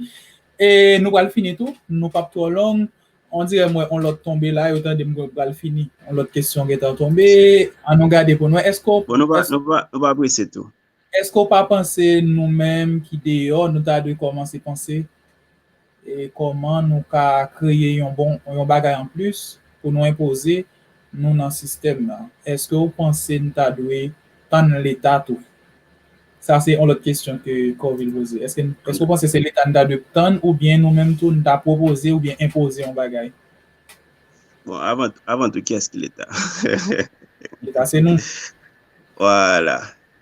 E nou pral fini tou, nou p ap twò long. On dirè m wè on lòt tonbe la, yo tande m mwen pral fini. On lòt kestyon gentan tonbe, an nou gade pou n wè. Èske w, Bon, nou pa, èske. nou pa, nou pa prese tou. Èske w pa panse nou menm ki deyò nou ta dwe kòmanse panse kòman nou ka kreye yon bon yon bagay anplis pou nou enpoze nou nan sistèm nan? Èske w panse n ta dwe tann leta tou? Sa se yon lòt kesyon ke Corvil poze. Èske n èske w panse se leta n ta dwe tann oubyen nou menm tou n ta pwopoze oubyen enpoze yon bagay? Bon, avan avan tou kiyès ki leta? Leta se nou. Voilà.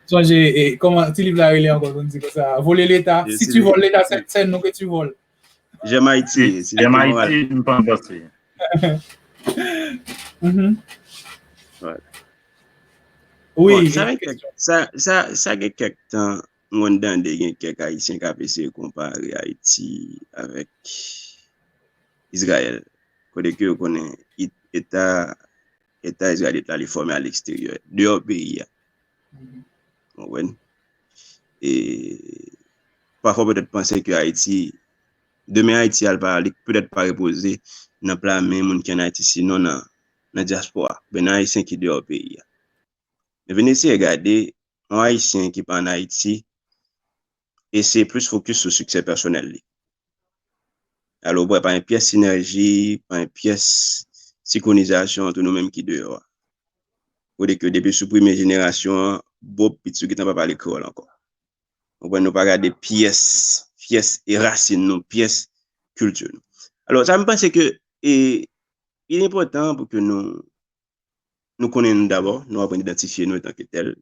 Sonje, e, koman ti liv la rele ankò nou di konsa? Vole leta, E, si si tu li- voles leta, se se nou ke tu voles. J'aime Haïti. Si Jèm j'étais moral. Ayiti, m pa danse. Mhm. Ouais. Oui, Bon, sa gen kèk sa sa sa gen kèk tan mwen tande gen kèk Ayisyen kap eseye konpare Ayiti avèk Izrayèl. Kote ke yo konnen it- eta Eta Izrayelit la, li fòme aleksteryè, deyò peyi a. Konprann? E, pafwa petèt panse ke Ayiti, demen Ayiti al pa, li petèt pa repoze nan pla men moun ki an Ayiti, sinon nan, nan dyaspora, oubyen nan Ayisyen ki deyò peyi a. Men vin eseye gade, yon Ayisyen ki pa an Ayiti, eseye plis fokis sou siksè pèsonèl li. Al oprè pa yon pyès sinèji, pa yon pyès sinkronizasyon antre nou menm ki deyò a. Kote ke depi sou premye jenerasyon an, bòb pitit ou gentan pa pale kreyòl ankò. Konprann nou pa gade pyès, pyès e rasin nou, pyès kilti nou. Alò sa m panse ke e li enpòtan pou ke nou. nou konnen nou dabò, nou aprann idantifye nou etanke tèl,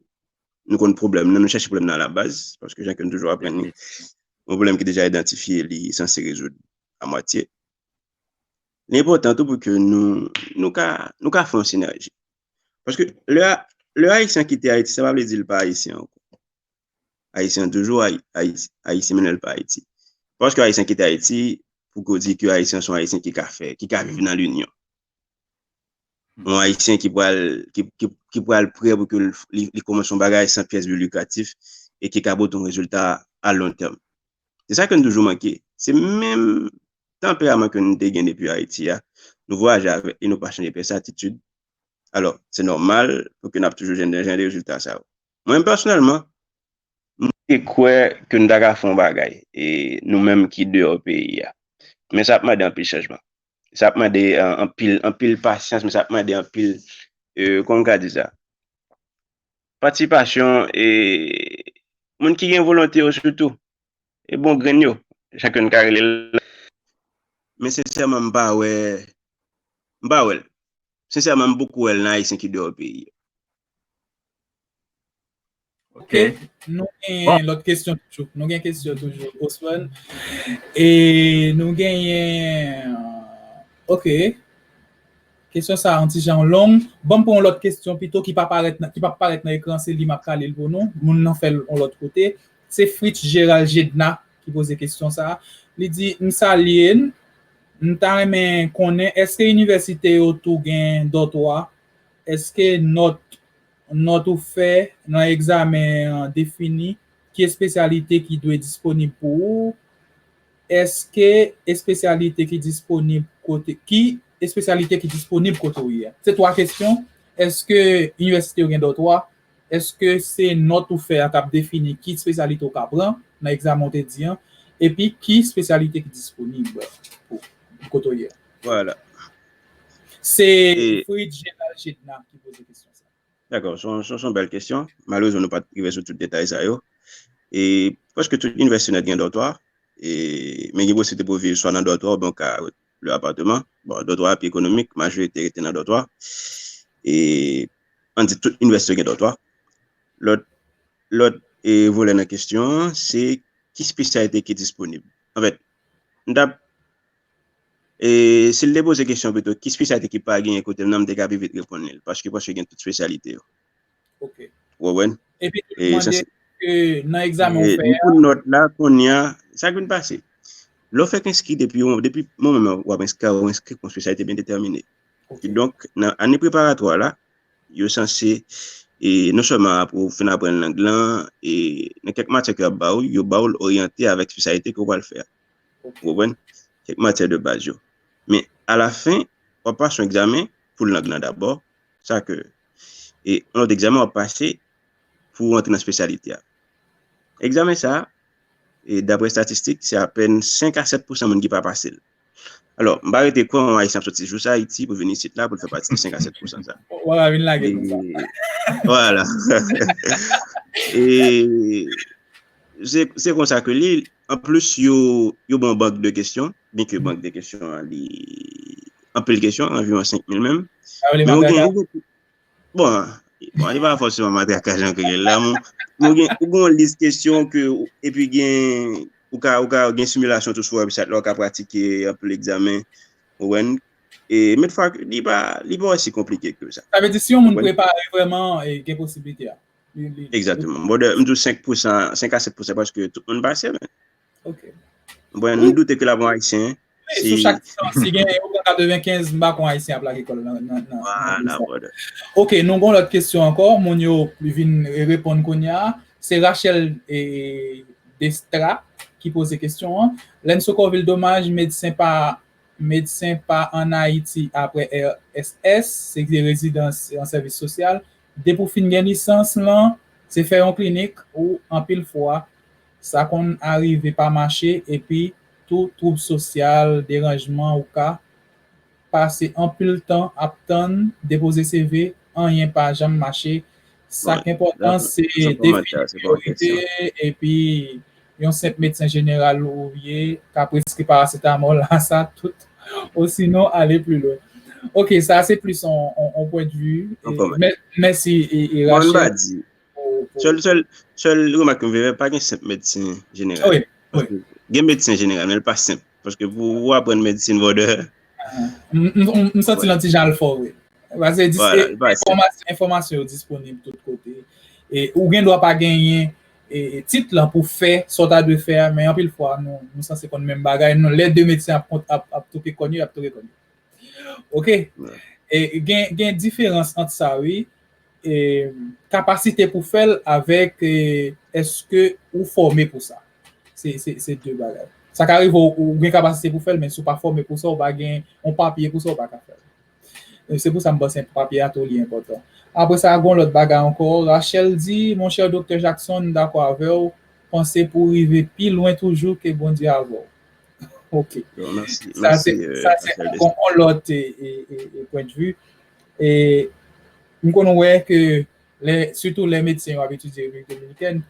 nou konn pwoblèm nan, nou chèche pwoblèm nan alabaz, paske jan ke nou toujou aprann li, yon pwoblèm ki deja idantifye li sanse rezoud amwatye. Li enpòtan tou pou ke nou ka fè yon sinèji. Paske lè Ayisyen kite Ayiti, sa pa vle di li pa Ayisyen ankò. Ayisyen toujou Ayisyen menm lè li pa Ayiti. Paske Ayisyen kite Ayiti, pou ke ou di ke Ayisyen son Ayisyen ki ka fè, ki ka viv nan linyon. Yon Ayisyen ki pral ki pral prè pou ke li kòmanse yon bagay san pyès de likatif e ki ka pote yon rezilta a lon tèm. Se sa ke nou toujou manke. Se menm tanperaman ke nou te gen depi Ayiti a. Nou vwayaje avèk li, nou pa chanje pyès atitid. Alò, se nòmal pou ke n ap toujou jwenn jan de rezilta sa yo. Mwen menm pèsonèlman, m te kwè ke nou ta ka fè yon bagay, nou menm ki deyò peyi a. Men sa ap mande anpil chanjman. sa ap mande anpil, anpil pasyans, men sa ap mande anpil, kòman m ka di sa, patisipasyon e moun ki gen volonte yo sitou, e bon grenn yo, jan ke n ka rele l. Men sensèman m pa wè, m pa wè l. Sensèman m poko wè l nan Ayisyen ki deyò peyi. Ok. Nou gen bon. lòt kesyon toujou. Nou gen kesyon toujou. Osman. E nou gen yen... Ok. Kesyon sa an ti jan long. Bon pou yon lòt kesyon pito ki pa parèt nan, ki pa parèt nan ekran se li map kalil pou nou. Moun nan fèl yon lòt kote. Se Fritz Gérald Gédna ki poze kesyon sa. Li di, m salye n. M ta renmen konnen eske inivèsite yo tou gen dòtwa Èske nòt nòt ou fè nan egzamen an defini ki espesyalite ki dwe disponib pou ou? Èske espesyalite ki disponib kote ki espesyalite ki disponib kote ou ye a? Se twa kesyon. Èske inivèsite yo gen dòtwa? Èske se nòt ou fè a k ap defini ki espesyalite ou ka pran nan egzamen ou te di an? Epi ki espesyalite ki disponib pou kote ou ye a? Vwala. Se Fritz Gérald Chédna ki poze kesyon sa. Dakò, se yon bèl kesyon. Malerezman nou pa t rive sou tout detay sa yo. E prèske tout inivèsite nèt gen dòtwa. E men gen posiblite pou viv swa nan dòtwa ou byen ka lwe apateman. Bon, dòtwa a pi ekonomik, majorite rete nan dòtwa. E an di tout inivèsite yo gen dòtwa. Lòt lòt e volè nan kesyon an se ki spesyalite ki disponib. Anfèt, m ta E si l te poze kesyon pito, ki spesyalite ki pa genyen kote m nan, m te ka pi vit reponn li l. Paske m panse gen tout spesyalite yo. Ok. Ou konprann? Epi tou li mande ke nan egzamen ou fè a. Ni pou nòt la, kounye a, sa k vin pase? Lè w fèk enskri depi yon, depi moman nan w ap enskri, ou enskri pou yon spesyalite byen detèmine. Ki donk, nan ane preparatwa la, yo sanse, e non sèlman apre ou fin aprann lang lan, e nan kèk matyè ke y ap ba ou, yo ba ou l oryante avèk spesyalite ke ou pral fè a. Ou konprann? Kèk matyè de baz yo. Men, alafen, w ap pase yon egzamen pou lang nan dabò, sa ke, e yon lòt egzamen w ap pase pou ou antre nan espesyalite a. Egzamen sa a, e dapre estatistik, se apèn 5 a 7 pousan moun ki pa pase l. Alò, m pa rete kwè yon Ayisyen ap soti jous Ayiti pou l vin isit la pou l fè pati de 5 a 7 pousan sa a. W ap vin lage pou sa. E, vwala. E, se konsa ke li, An plis yo yo ban bank de kesyon, byen ke bank de kesyon an li anpil kesyon, anviwon 5 mil menm. Sa vle matrakaj? Bon, bon li pa fòseman matrakaj an kreyòl la, men ou gen ou gen yon lis kesyon ke epi gen ou ka ou ka gen similasyon tou sou website la ou ka pratike anpil egzamen ou wè, e men fwa li pa li pa osi konplike ke sa. Sa vle di si yon moun prepare vrèman gen posiblite a? Exactement. Bon, m djou 5 pousan, 5 a 7 pousan, paske tout moun pase men. Ok. Bon, m doute ke la bon ayisyen. Sou chak tan, si gen yon kaka 95, m bakon ayisyen ap lage kol nan. Wana, brother. Ok, nou gon lot kesyon anko, moun yo vin repon konya. Se Rachel Destra ki pose kesyon an. Lenzo Covil domaj medsen pa medsen pa an Ayiti apre RSS, se vye rezidans an sèvis sosyal. Depi w fin gen lisans lan, se fè yon klinik ou anpil fwa, sa konn arive pa mache epi tou twoub sosyal, deranjman ou ka pase anpil tan ap tann, depoze CV, anyen pa janm mache, sa k enpòtan se defini priyorite epi. yon senp medsen jeneral ou ye ka preskri paracetamol a sa tout osinon ale pli lwen. Ok sa se plis yon pwen de vi. Mèsi Rachel. Sèl remak m vle fè pa gen senp medsen jeneral. Gen medsen jeneral men li pa senp. Paske pou ou aprann medsin vòdè. M santi lan ti jan l fò vre. Pase enfòmasyon yo disponib tout kote. E ou gen dwa pa genyen tit lan pou fè sa w ta dwe fè a. Men anpil fwa nou sanse konn menm bagay. Non lè 2 medsen ap touke kòn yo, y ap touke kòn yo. Ok? Gen diferans ant sa wi. Kapasite pou fè l avèk èske ou fòme pou sa. Se de bagay. Sa ka rive ou gen kapasite pou fè l men si ou pa fòme pou sa, ou pa gen yon papye pou sa, ou pa ka fè l. Se pou sa m panse papye a tou li enpòtan. Apre sa, gen yon lòt bagay ankò. Rachel di, Monchè Doktè Jackson, m dakò avè w. Panse pou w rive pi lwen toujou ke Bondye avè w. Ok. Sa se ankò yon lòt pwendvi. E m konn wè ke lè, sitou lè medsen yo ap etidye Repiblik Dominikèn,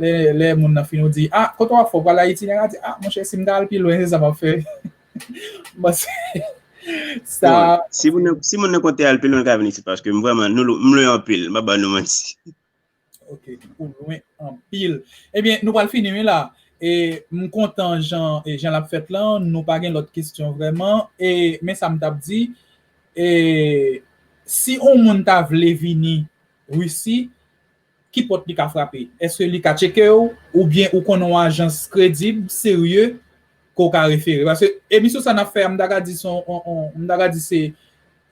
lè lè moun nan fin ou di, a, kote w ap fè? Ou pral Ayiti? Nèg la di, a, monchè, si m ta al pi lwen, se sa m ap fè. M panse sa. Si moun nan konte al pi lwen, l ka vin isit paske m vrèman, nou, m lwen anpil, m pa ba nou manti. Ok, ou lwen anpil. Ebyen, nou pral fini wi la. E m kontan jan e jan l ap fèt lan, nou pa gen lòt kesyon vrèman. E men sa m t ap di, e si on moun ta vle vini Risi, ki pòt li ka frape? Èske li ka tcheke w oubyen ou konnen on ajans kredib, serye ke w ka refere? Paske emisyon sa n ap fè a m ta ka di se on on m ta ka di se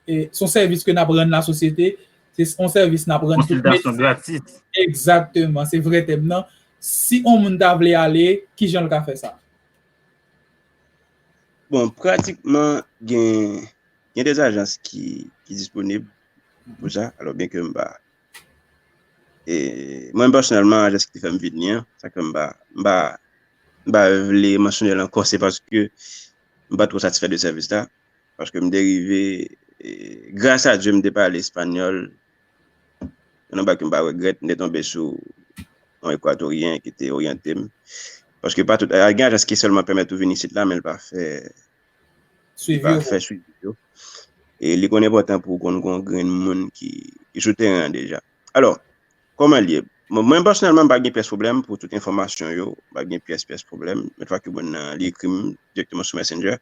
Se yon sèvis ke n ap rann lasosyete, se yon sèvis n ap rann tout medsen. Konsiltasyon gratis. Egzakteman, se vre tèm nan. Si yon moun ta vle ale, ki jan l ka fè sa? Bon, pratikman gen de ajans ki disponib pou sa. Alò, byen ke m pa, e mwen pèsonèlman ajans ki fè m vini an, sa ke m pa, m pa, m pa vle mansyone l ankò, se paske m pa twò satisfè de sèvis la. Paske m te rive, gras a Dye m te pale espanyòl, se yon bagay ke m pa regrèt, m te tonbe sou yon Ekwatoryen ki te oryante m, paske pa tout, gen ajans ki sèlman pèmèt ou vin isit la men l pa fè swivi yo, e li konn enpòtan pou w konn gen yon grenn moun ki sou teren an deja. Alò, kòman l ye? Mwen pèsonèlman m pa gen pyès pwoblèm pou tout enfòmasyon yo, m pa gen pyès pyès pwoblèm, men fwa ke moun nan li ekri m dirèkteman sou Messenger,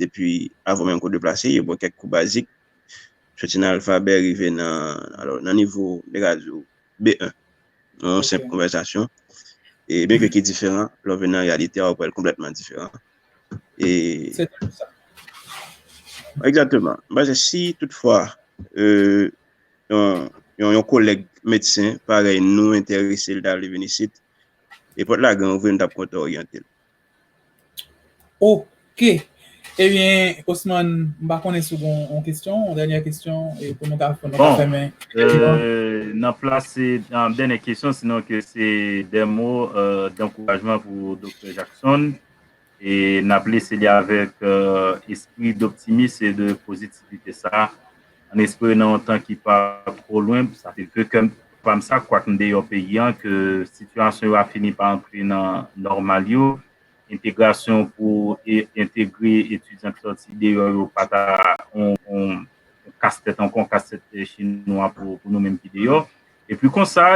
depi avan menm ke w deplase, yo ba w kèk kou bazik, soti nan alfabè rive nan, alò, nan nivo, m te ka di w, B1, nan yon senp konvèsasyon, e byen ke ki diferan, lè w vin nan reyalite a, w ap wè l konplètman diferan. E. Se tankou sa. Egzakteman. M panse si tout fwa, yon, yon kolèg medsen parèy nou enterese l ta vle vin isit, e pòt la gran ouvri, nou t ap kontan oryante l. Ok, ebyen Osman m pa konnen si w gen yon kesyon, yon dènyè kesyon pou nou ka fèmen. Bon, nan plase yon dènyè kesyon sinon ke se dè mo dankourajman pou Doktè Jackson e n ap lese li avèk espri doptimis e de pozitivite sa a. An espere nan yon tan ki pa two lwen, sa se ve kè pa m sa, kwak m deyò peyi an, ke sitiyasyon yo a fini pa antre nan nòmal yo, entegrasyon pou entegre etidyan ki sòti deyò yo pa ta yon kastèt ankò, yon kastèt chinwa pou nou menm ki deyò. Epi konsa,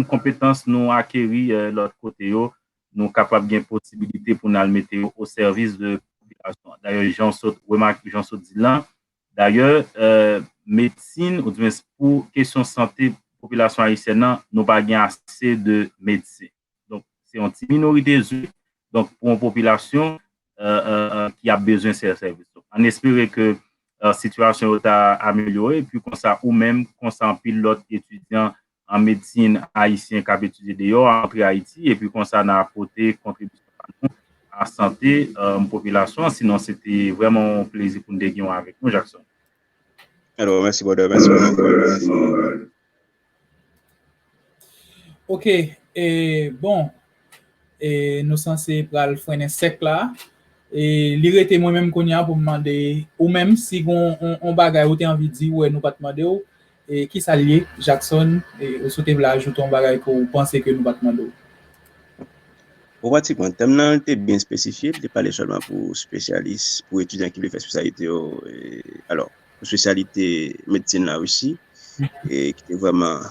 konpetans nou akeri lòt kote yo, nou kapab gen posibilite pou n al mete yo osèvis de popilasyon an. Dayè, jan w sot remake, jan w sot di l lan, Dayè, medsin ou di mwens pou kesyon sante popilasyon ayisyèn nan, nou pa gen ase de medsen. Donk, se yon ti minorite zwi, donk pou yon popilasyon ki ap bezwen sè sèvis. An espere ke sitiyasyon yo ta amelyore, epi konsa ou menm, konsa anpil lòt etidyan an medsin ayisyen k ap etidye deyò a antre Ayiti epi konsa n a pote kontribisyon pa nou a sante popilasyon an. Sinon se te vrèman yon plezi pou n te gen w avèk nou Jackson. Alò, mèsi brother, mèsi pou bon travay. Ok, bon, e nou sanse pral frennen sèk la e li rete mwen menm konya pou m mande ou menm si gon on bagay ou te anvi di ou wè nou pat mande w e ki sa l ye Jackson e ou sou te vle ajoute on bagay ke w panse ke nou pat mande w. Bon pratiquement tèm nan li te byen spesifye, li te pale sèlman pou spesyalis, pou etidyan ki vle fè spesyalite yo e alors. espesyalite medsin la osi, e ki te vreman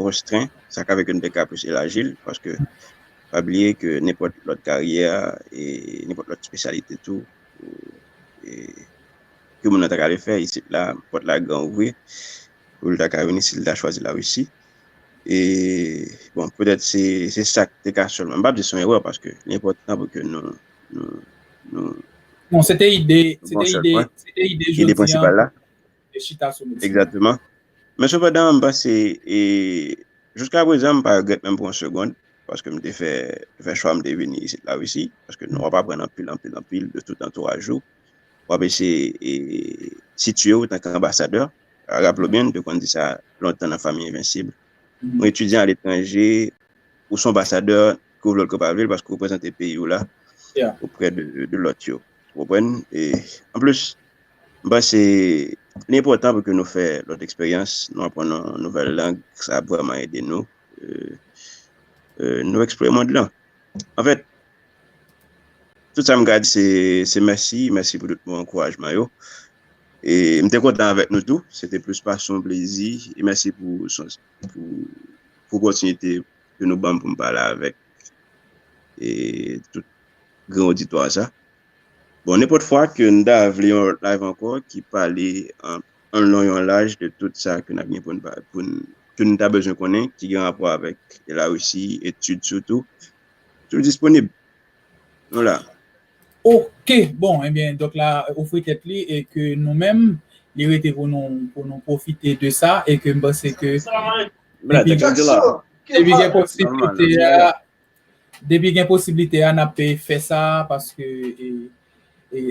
restren, sa ka fè ke nou te ka plis elaji l, paske pa bliye ke nenpòt lòt karyè, e nenpòt lòt espesyalite tou, e ke moun nan ta ka ale fè, isit la, pòt la gran ouvri, pou l ta ka vini si l ta chwazi la Risi, e bon, petèt se sa ki te ka sèlman, m pa di se yon erè, paske li enpòtan pou ke nou. Non, se te ide, se te ide, se te ide jodi an. Ide prensipal la. E chita sou medsin. Ekzatman. Men se padan m panse, e, jouska prezan m pa regrèt menm pou yon segond, paske m te fè, fè chwa m te vini isit la Risi, paske nou ap aprann anpil, anpil, anpil de tout antouraj ou. W ap eseye, e, sitye ou tanke anbasadè. Raple w byen, m te konn di sa lontan nan Fanmi Envensib. Ou etidyan aletranje, ou se anbasadè ke w vle l ke w pa vle l paske w reprezante peyi w la oprè de lòt yo. Ou konprann? E anplis, m panse li enpòtan pou ke nou fè lòt eksperyans, nou aprann yon nouvèl lang, sa ap vrèman ede nou nou eksplore mond lan. Anfèt, tout sa m ka di se mèsi, mèsi pou tout mo ankourajman yo. E m te kontan avèk nou tou, se te plis pase yon plezi. E mèsi pou opòtinite. ke nou banm pou m pale avèk tout gran oditwa sa. Bon, nenpòt fwa ke n ta vle yon lòt live ankò ki pale an lon e an laj de tout sa ke n ap gen pou n pale, pou n, ke n ta bezwen konnen ki gen rapò avèk la Risi, etid sitou, tou disponib. Nou la. Ok, bon, enben, dòk la ofri tèt li e ke nou menm, li rete pou nou, pou nou pwofite de sa e ke m panse ke. Depi gen posibilite a, depi gen posibilite a, nap pe fè sa, paske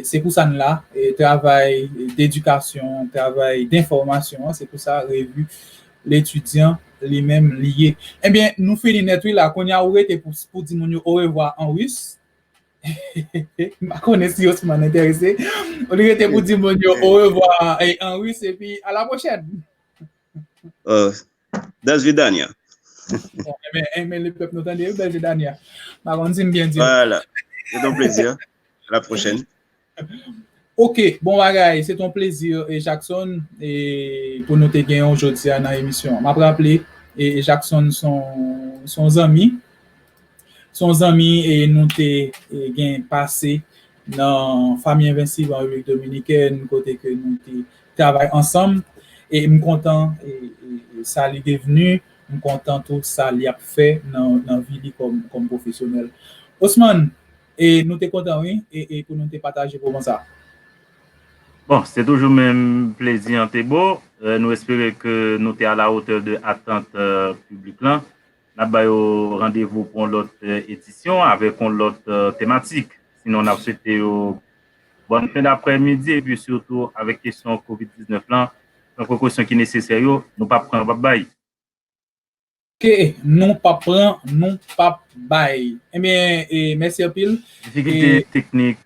se pou sa n la, travay d'edikasyon, travay d'infòmasyon, se pou sa revi L'Etudiant li menm li ye. Ebyen, nou fini nèt wi la, kounye a ou rete pou di moun yo orevwa an Rus, m pa konnen si Osman enterese, ou rete pou di moun yo orevwa an Rus, epi a la pwochèn. Oh, that's Vidania. Amen, amen, le peuple nous tende, oui, belle Vidania. Ma konn si bien dit. Voilà. C'est un plaisir. À la prochaine. Ok, bon bagay, se ton plezi e Jackson e pou nou te gen yon jodi a nan emisyon. M ap raple e Jackson son son zanmi. Se yon zanmi e nou te gen pase nan Famille Invincible an Repiblik Dominikèn kote ke nou te travay ansanm e m kontan sa li devni, m kontan tou sa li ap fè nan vi li kòm pwofesyonèl. Osman, e nou te kontan wi e pou nou te pataje moman sa. Bon, se toujou menm plezi Antebo, nou espere ke nou te a la hauteur de attente piblik lan. N ap ba yo randevou pou yon lòt edisyon avèk yon lòt tematik. Sinon n ap swete yo bòn fen daprè midi epi sitou avèk kesyon covid 19 lan pran prekosyon ki nesesè yo nou pap pran nou pap bay. Ke nou pap pran nou pap bay. Ebyen mèsi anpil. Difikilte teknik.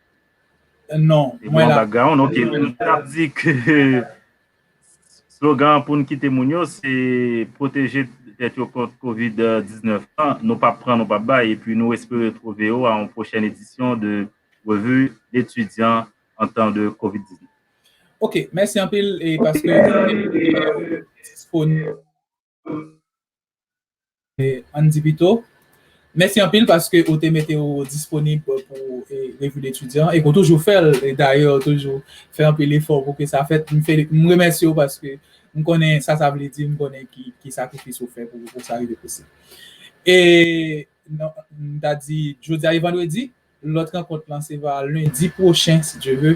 Non mwen la. Te gen yon background ok. M tap di ke. Slogan an pou n kite moun yo se pwoteje tèt yo kont covid 19 lan, nou pap pran nou pap bay epi nou espere twove ou a yon pwochèn edisyon de Revue L'Etudiant en temps de covid 19. Ok, mèsi anpil e paske disponible. Ann di pito, Mèsi anpil paske ou te mete ou disponib pou Revi de Etidyan, e ke w toujou fè l, e dayè ou toujou fè anpil efò pou ke sa fèt. M remèsye ou paske m konnen sa sa vle di, m konnen ki sakrifis ou fè pou sa rive posib. E m ta di, jodi a e vandredi. Lòt rankont lan se va lendi pwochen si Dye ve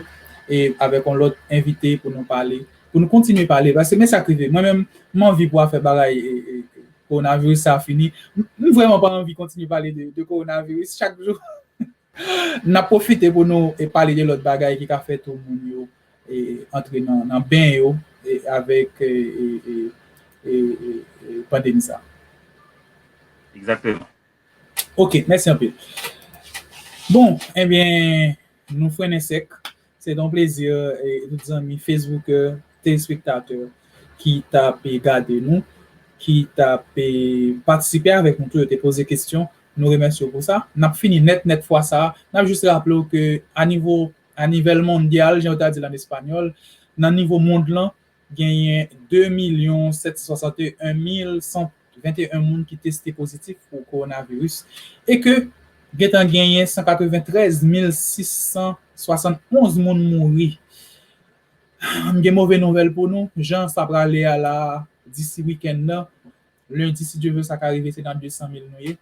e avèk yon lòt envite pou nou pale, pou nou kontinye pale paske men sa k rive mwen menm m anvi pou afè bagay kowonaviris sa fini, m vrèman pa anvi kontinye pale de kowonaviris chak jou n ap pwofite pou nou pale de lòt bagay ki ka fè tou moun yo antre nan ben yo avèk pandemi sa. Egzakteman. Ok, mèsi anpil. Bon, enbyen, nou frennen sèk. Se te yon plezi, tout zanmi fesboukè, telespektatè ki t ap gade nou, ki t ap patisipe avèk nou tou, yo te poze kesyon, nou remèsye yo pou sa. N ap fini nèt nèt fwa sa a. N ap jis raple w ke a nivo, a nivel mondyal, jan yo ta di l an espanyòl, nan nivo mond lan, Genyen 2 milyon 761 mil 121 moun ki teste pozitif pou kowonaviris e ke gentan genyen 193 mil 671 moun mouri. M gen move nouvèl pou nou, jan sa prale a la a, disi wikenn nan, lendi si Dye vle sa ka rive se nan 200 mil nou ye,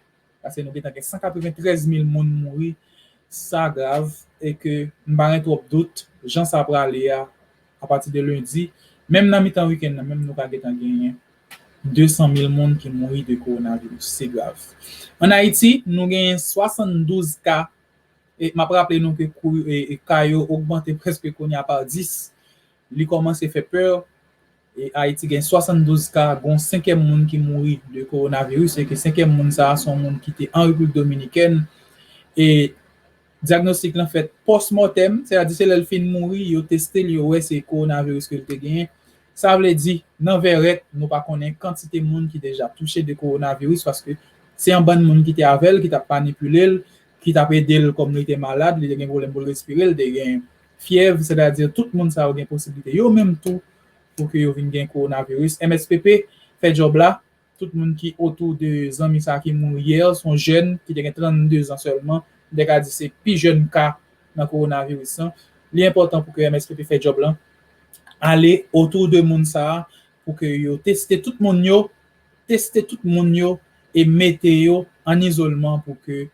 Pase nou gentan gen 193 mil moun mouri, sa grav e ke m pa gen twòp dout jan sa prale a apati de lendi, menm nan mitan wikenn nan menm nou ka gentan genyen 200 mil moun ki mouri de kowonaviris. Se grav. An Ayiti, nou genyen 72 ka e m ap raple nou ke ka yo ogmante prèske kounye a pa 10. Li kòmanse fè pè Ayiti gen 72 ka, gon senkèm moun ki mouri de kowonaviris e ke senkèm moun sa a son moun ki te an Repiblik Dominikèn e dyagnostik lan fèt pòsmòtèm, sè a di se lè l fin mouri yo teste l yo wè se kowonaviris ke l te genyen. Sa vle di nan vèrèt nou pa konnen kantite moun ki deja touche de kowonaviris paske se yon bann moun ki te avè l ki t ap manipile l, ki t ap ede l kòm li te malad, li te gen pwoblèm pou l respire, li te gen Fyèv, sètadi tout moun sa yo gen posiblite yo menm tou pou ke yo vin gen kowonaviris. MSPP fè djòb la, tout moun ki otou de zanmi sa ki mouri yè, se yon jèn ki te gen 32 zan sèlman, m te ka di se pi jèn ka nan kowonaviris lan. Li enpòtan pou ke MSPP fè djòb lan, ale otou de moun sa pou ke yo teste tout moun yo, teste tout moun yo e mete yo an izolman pou ke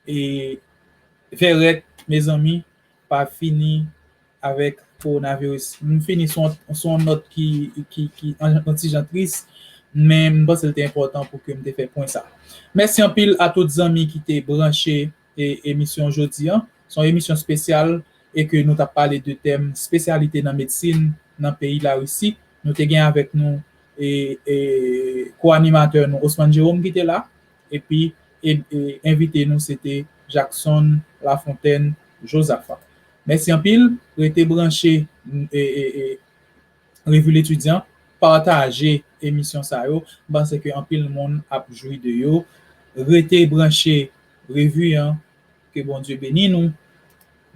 e vèrèt mezanmi. pa fini avèk kowonaviris. M fini sou yon nòt ki yon ti jan tris, men m panse l te enpòtan pou ke m te fè pwen sa. Mèsi anpil a tout zanmi ki te branche emisyon jodi an. Se yon emisyon spesyal e ke nou t ap pale de tèm spesyalite nan medsin nan peyi Larisi. Nou te gen avèk nou ko-animatè nou Osman Jerome ki te la. Epi envite nou se te Jackson Lafontaine Josaphat. Mèsi anpil, rete branche Revue L'Etudiant, pataje emisyon sa yo, m panse ke anpil moun ap jwi de yo. Rete branche Revue an, ke Bondye beni nou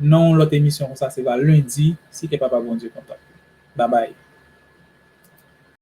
nan yon lòt emisyon konsa se va lendi si kè papa Bondye kontan. Babay!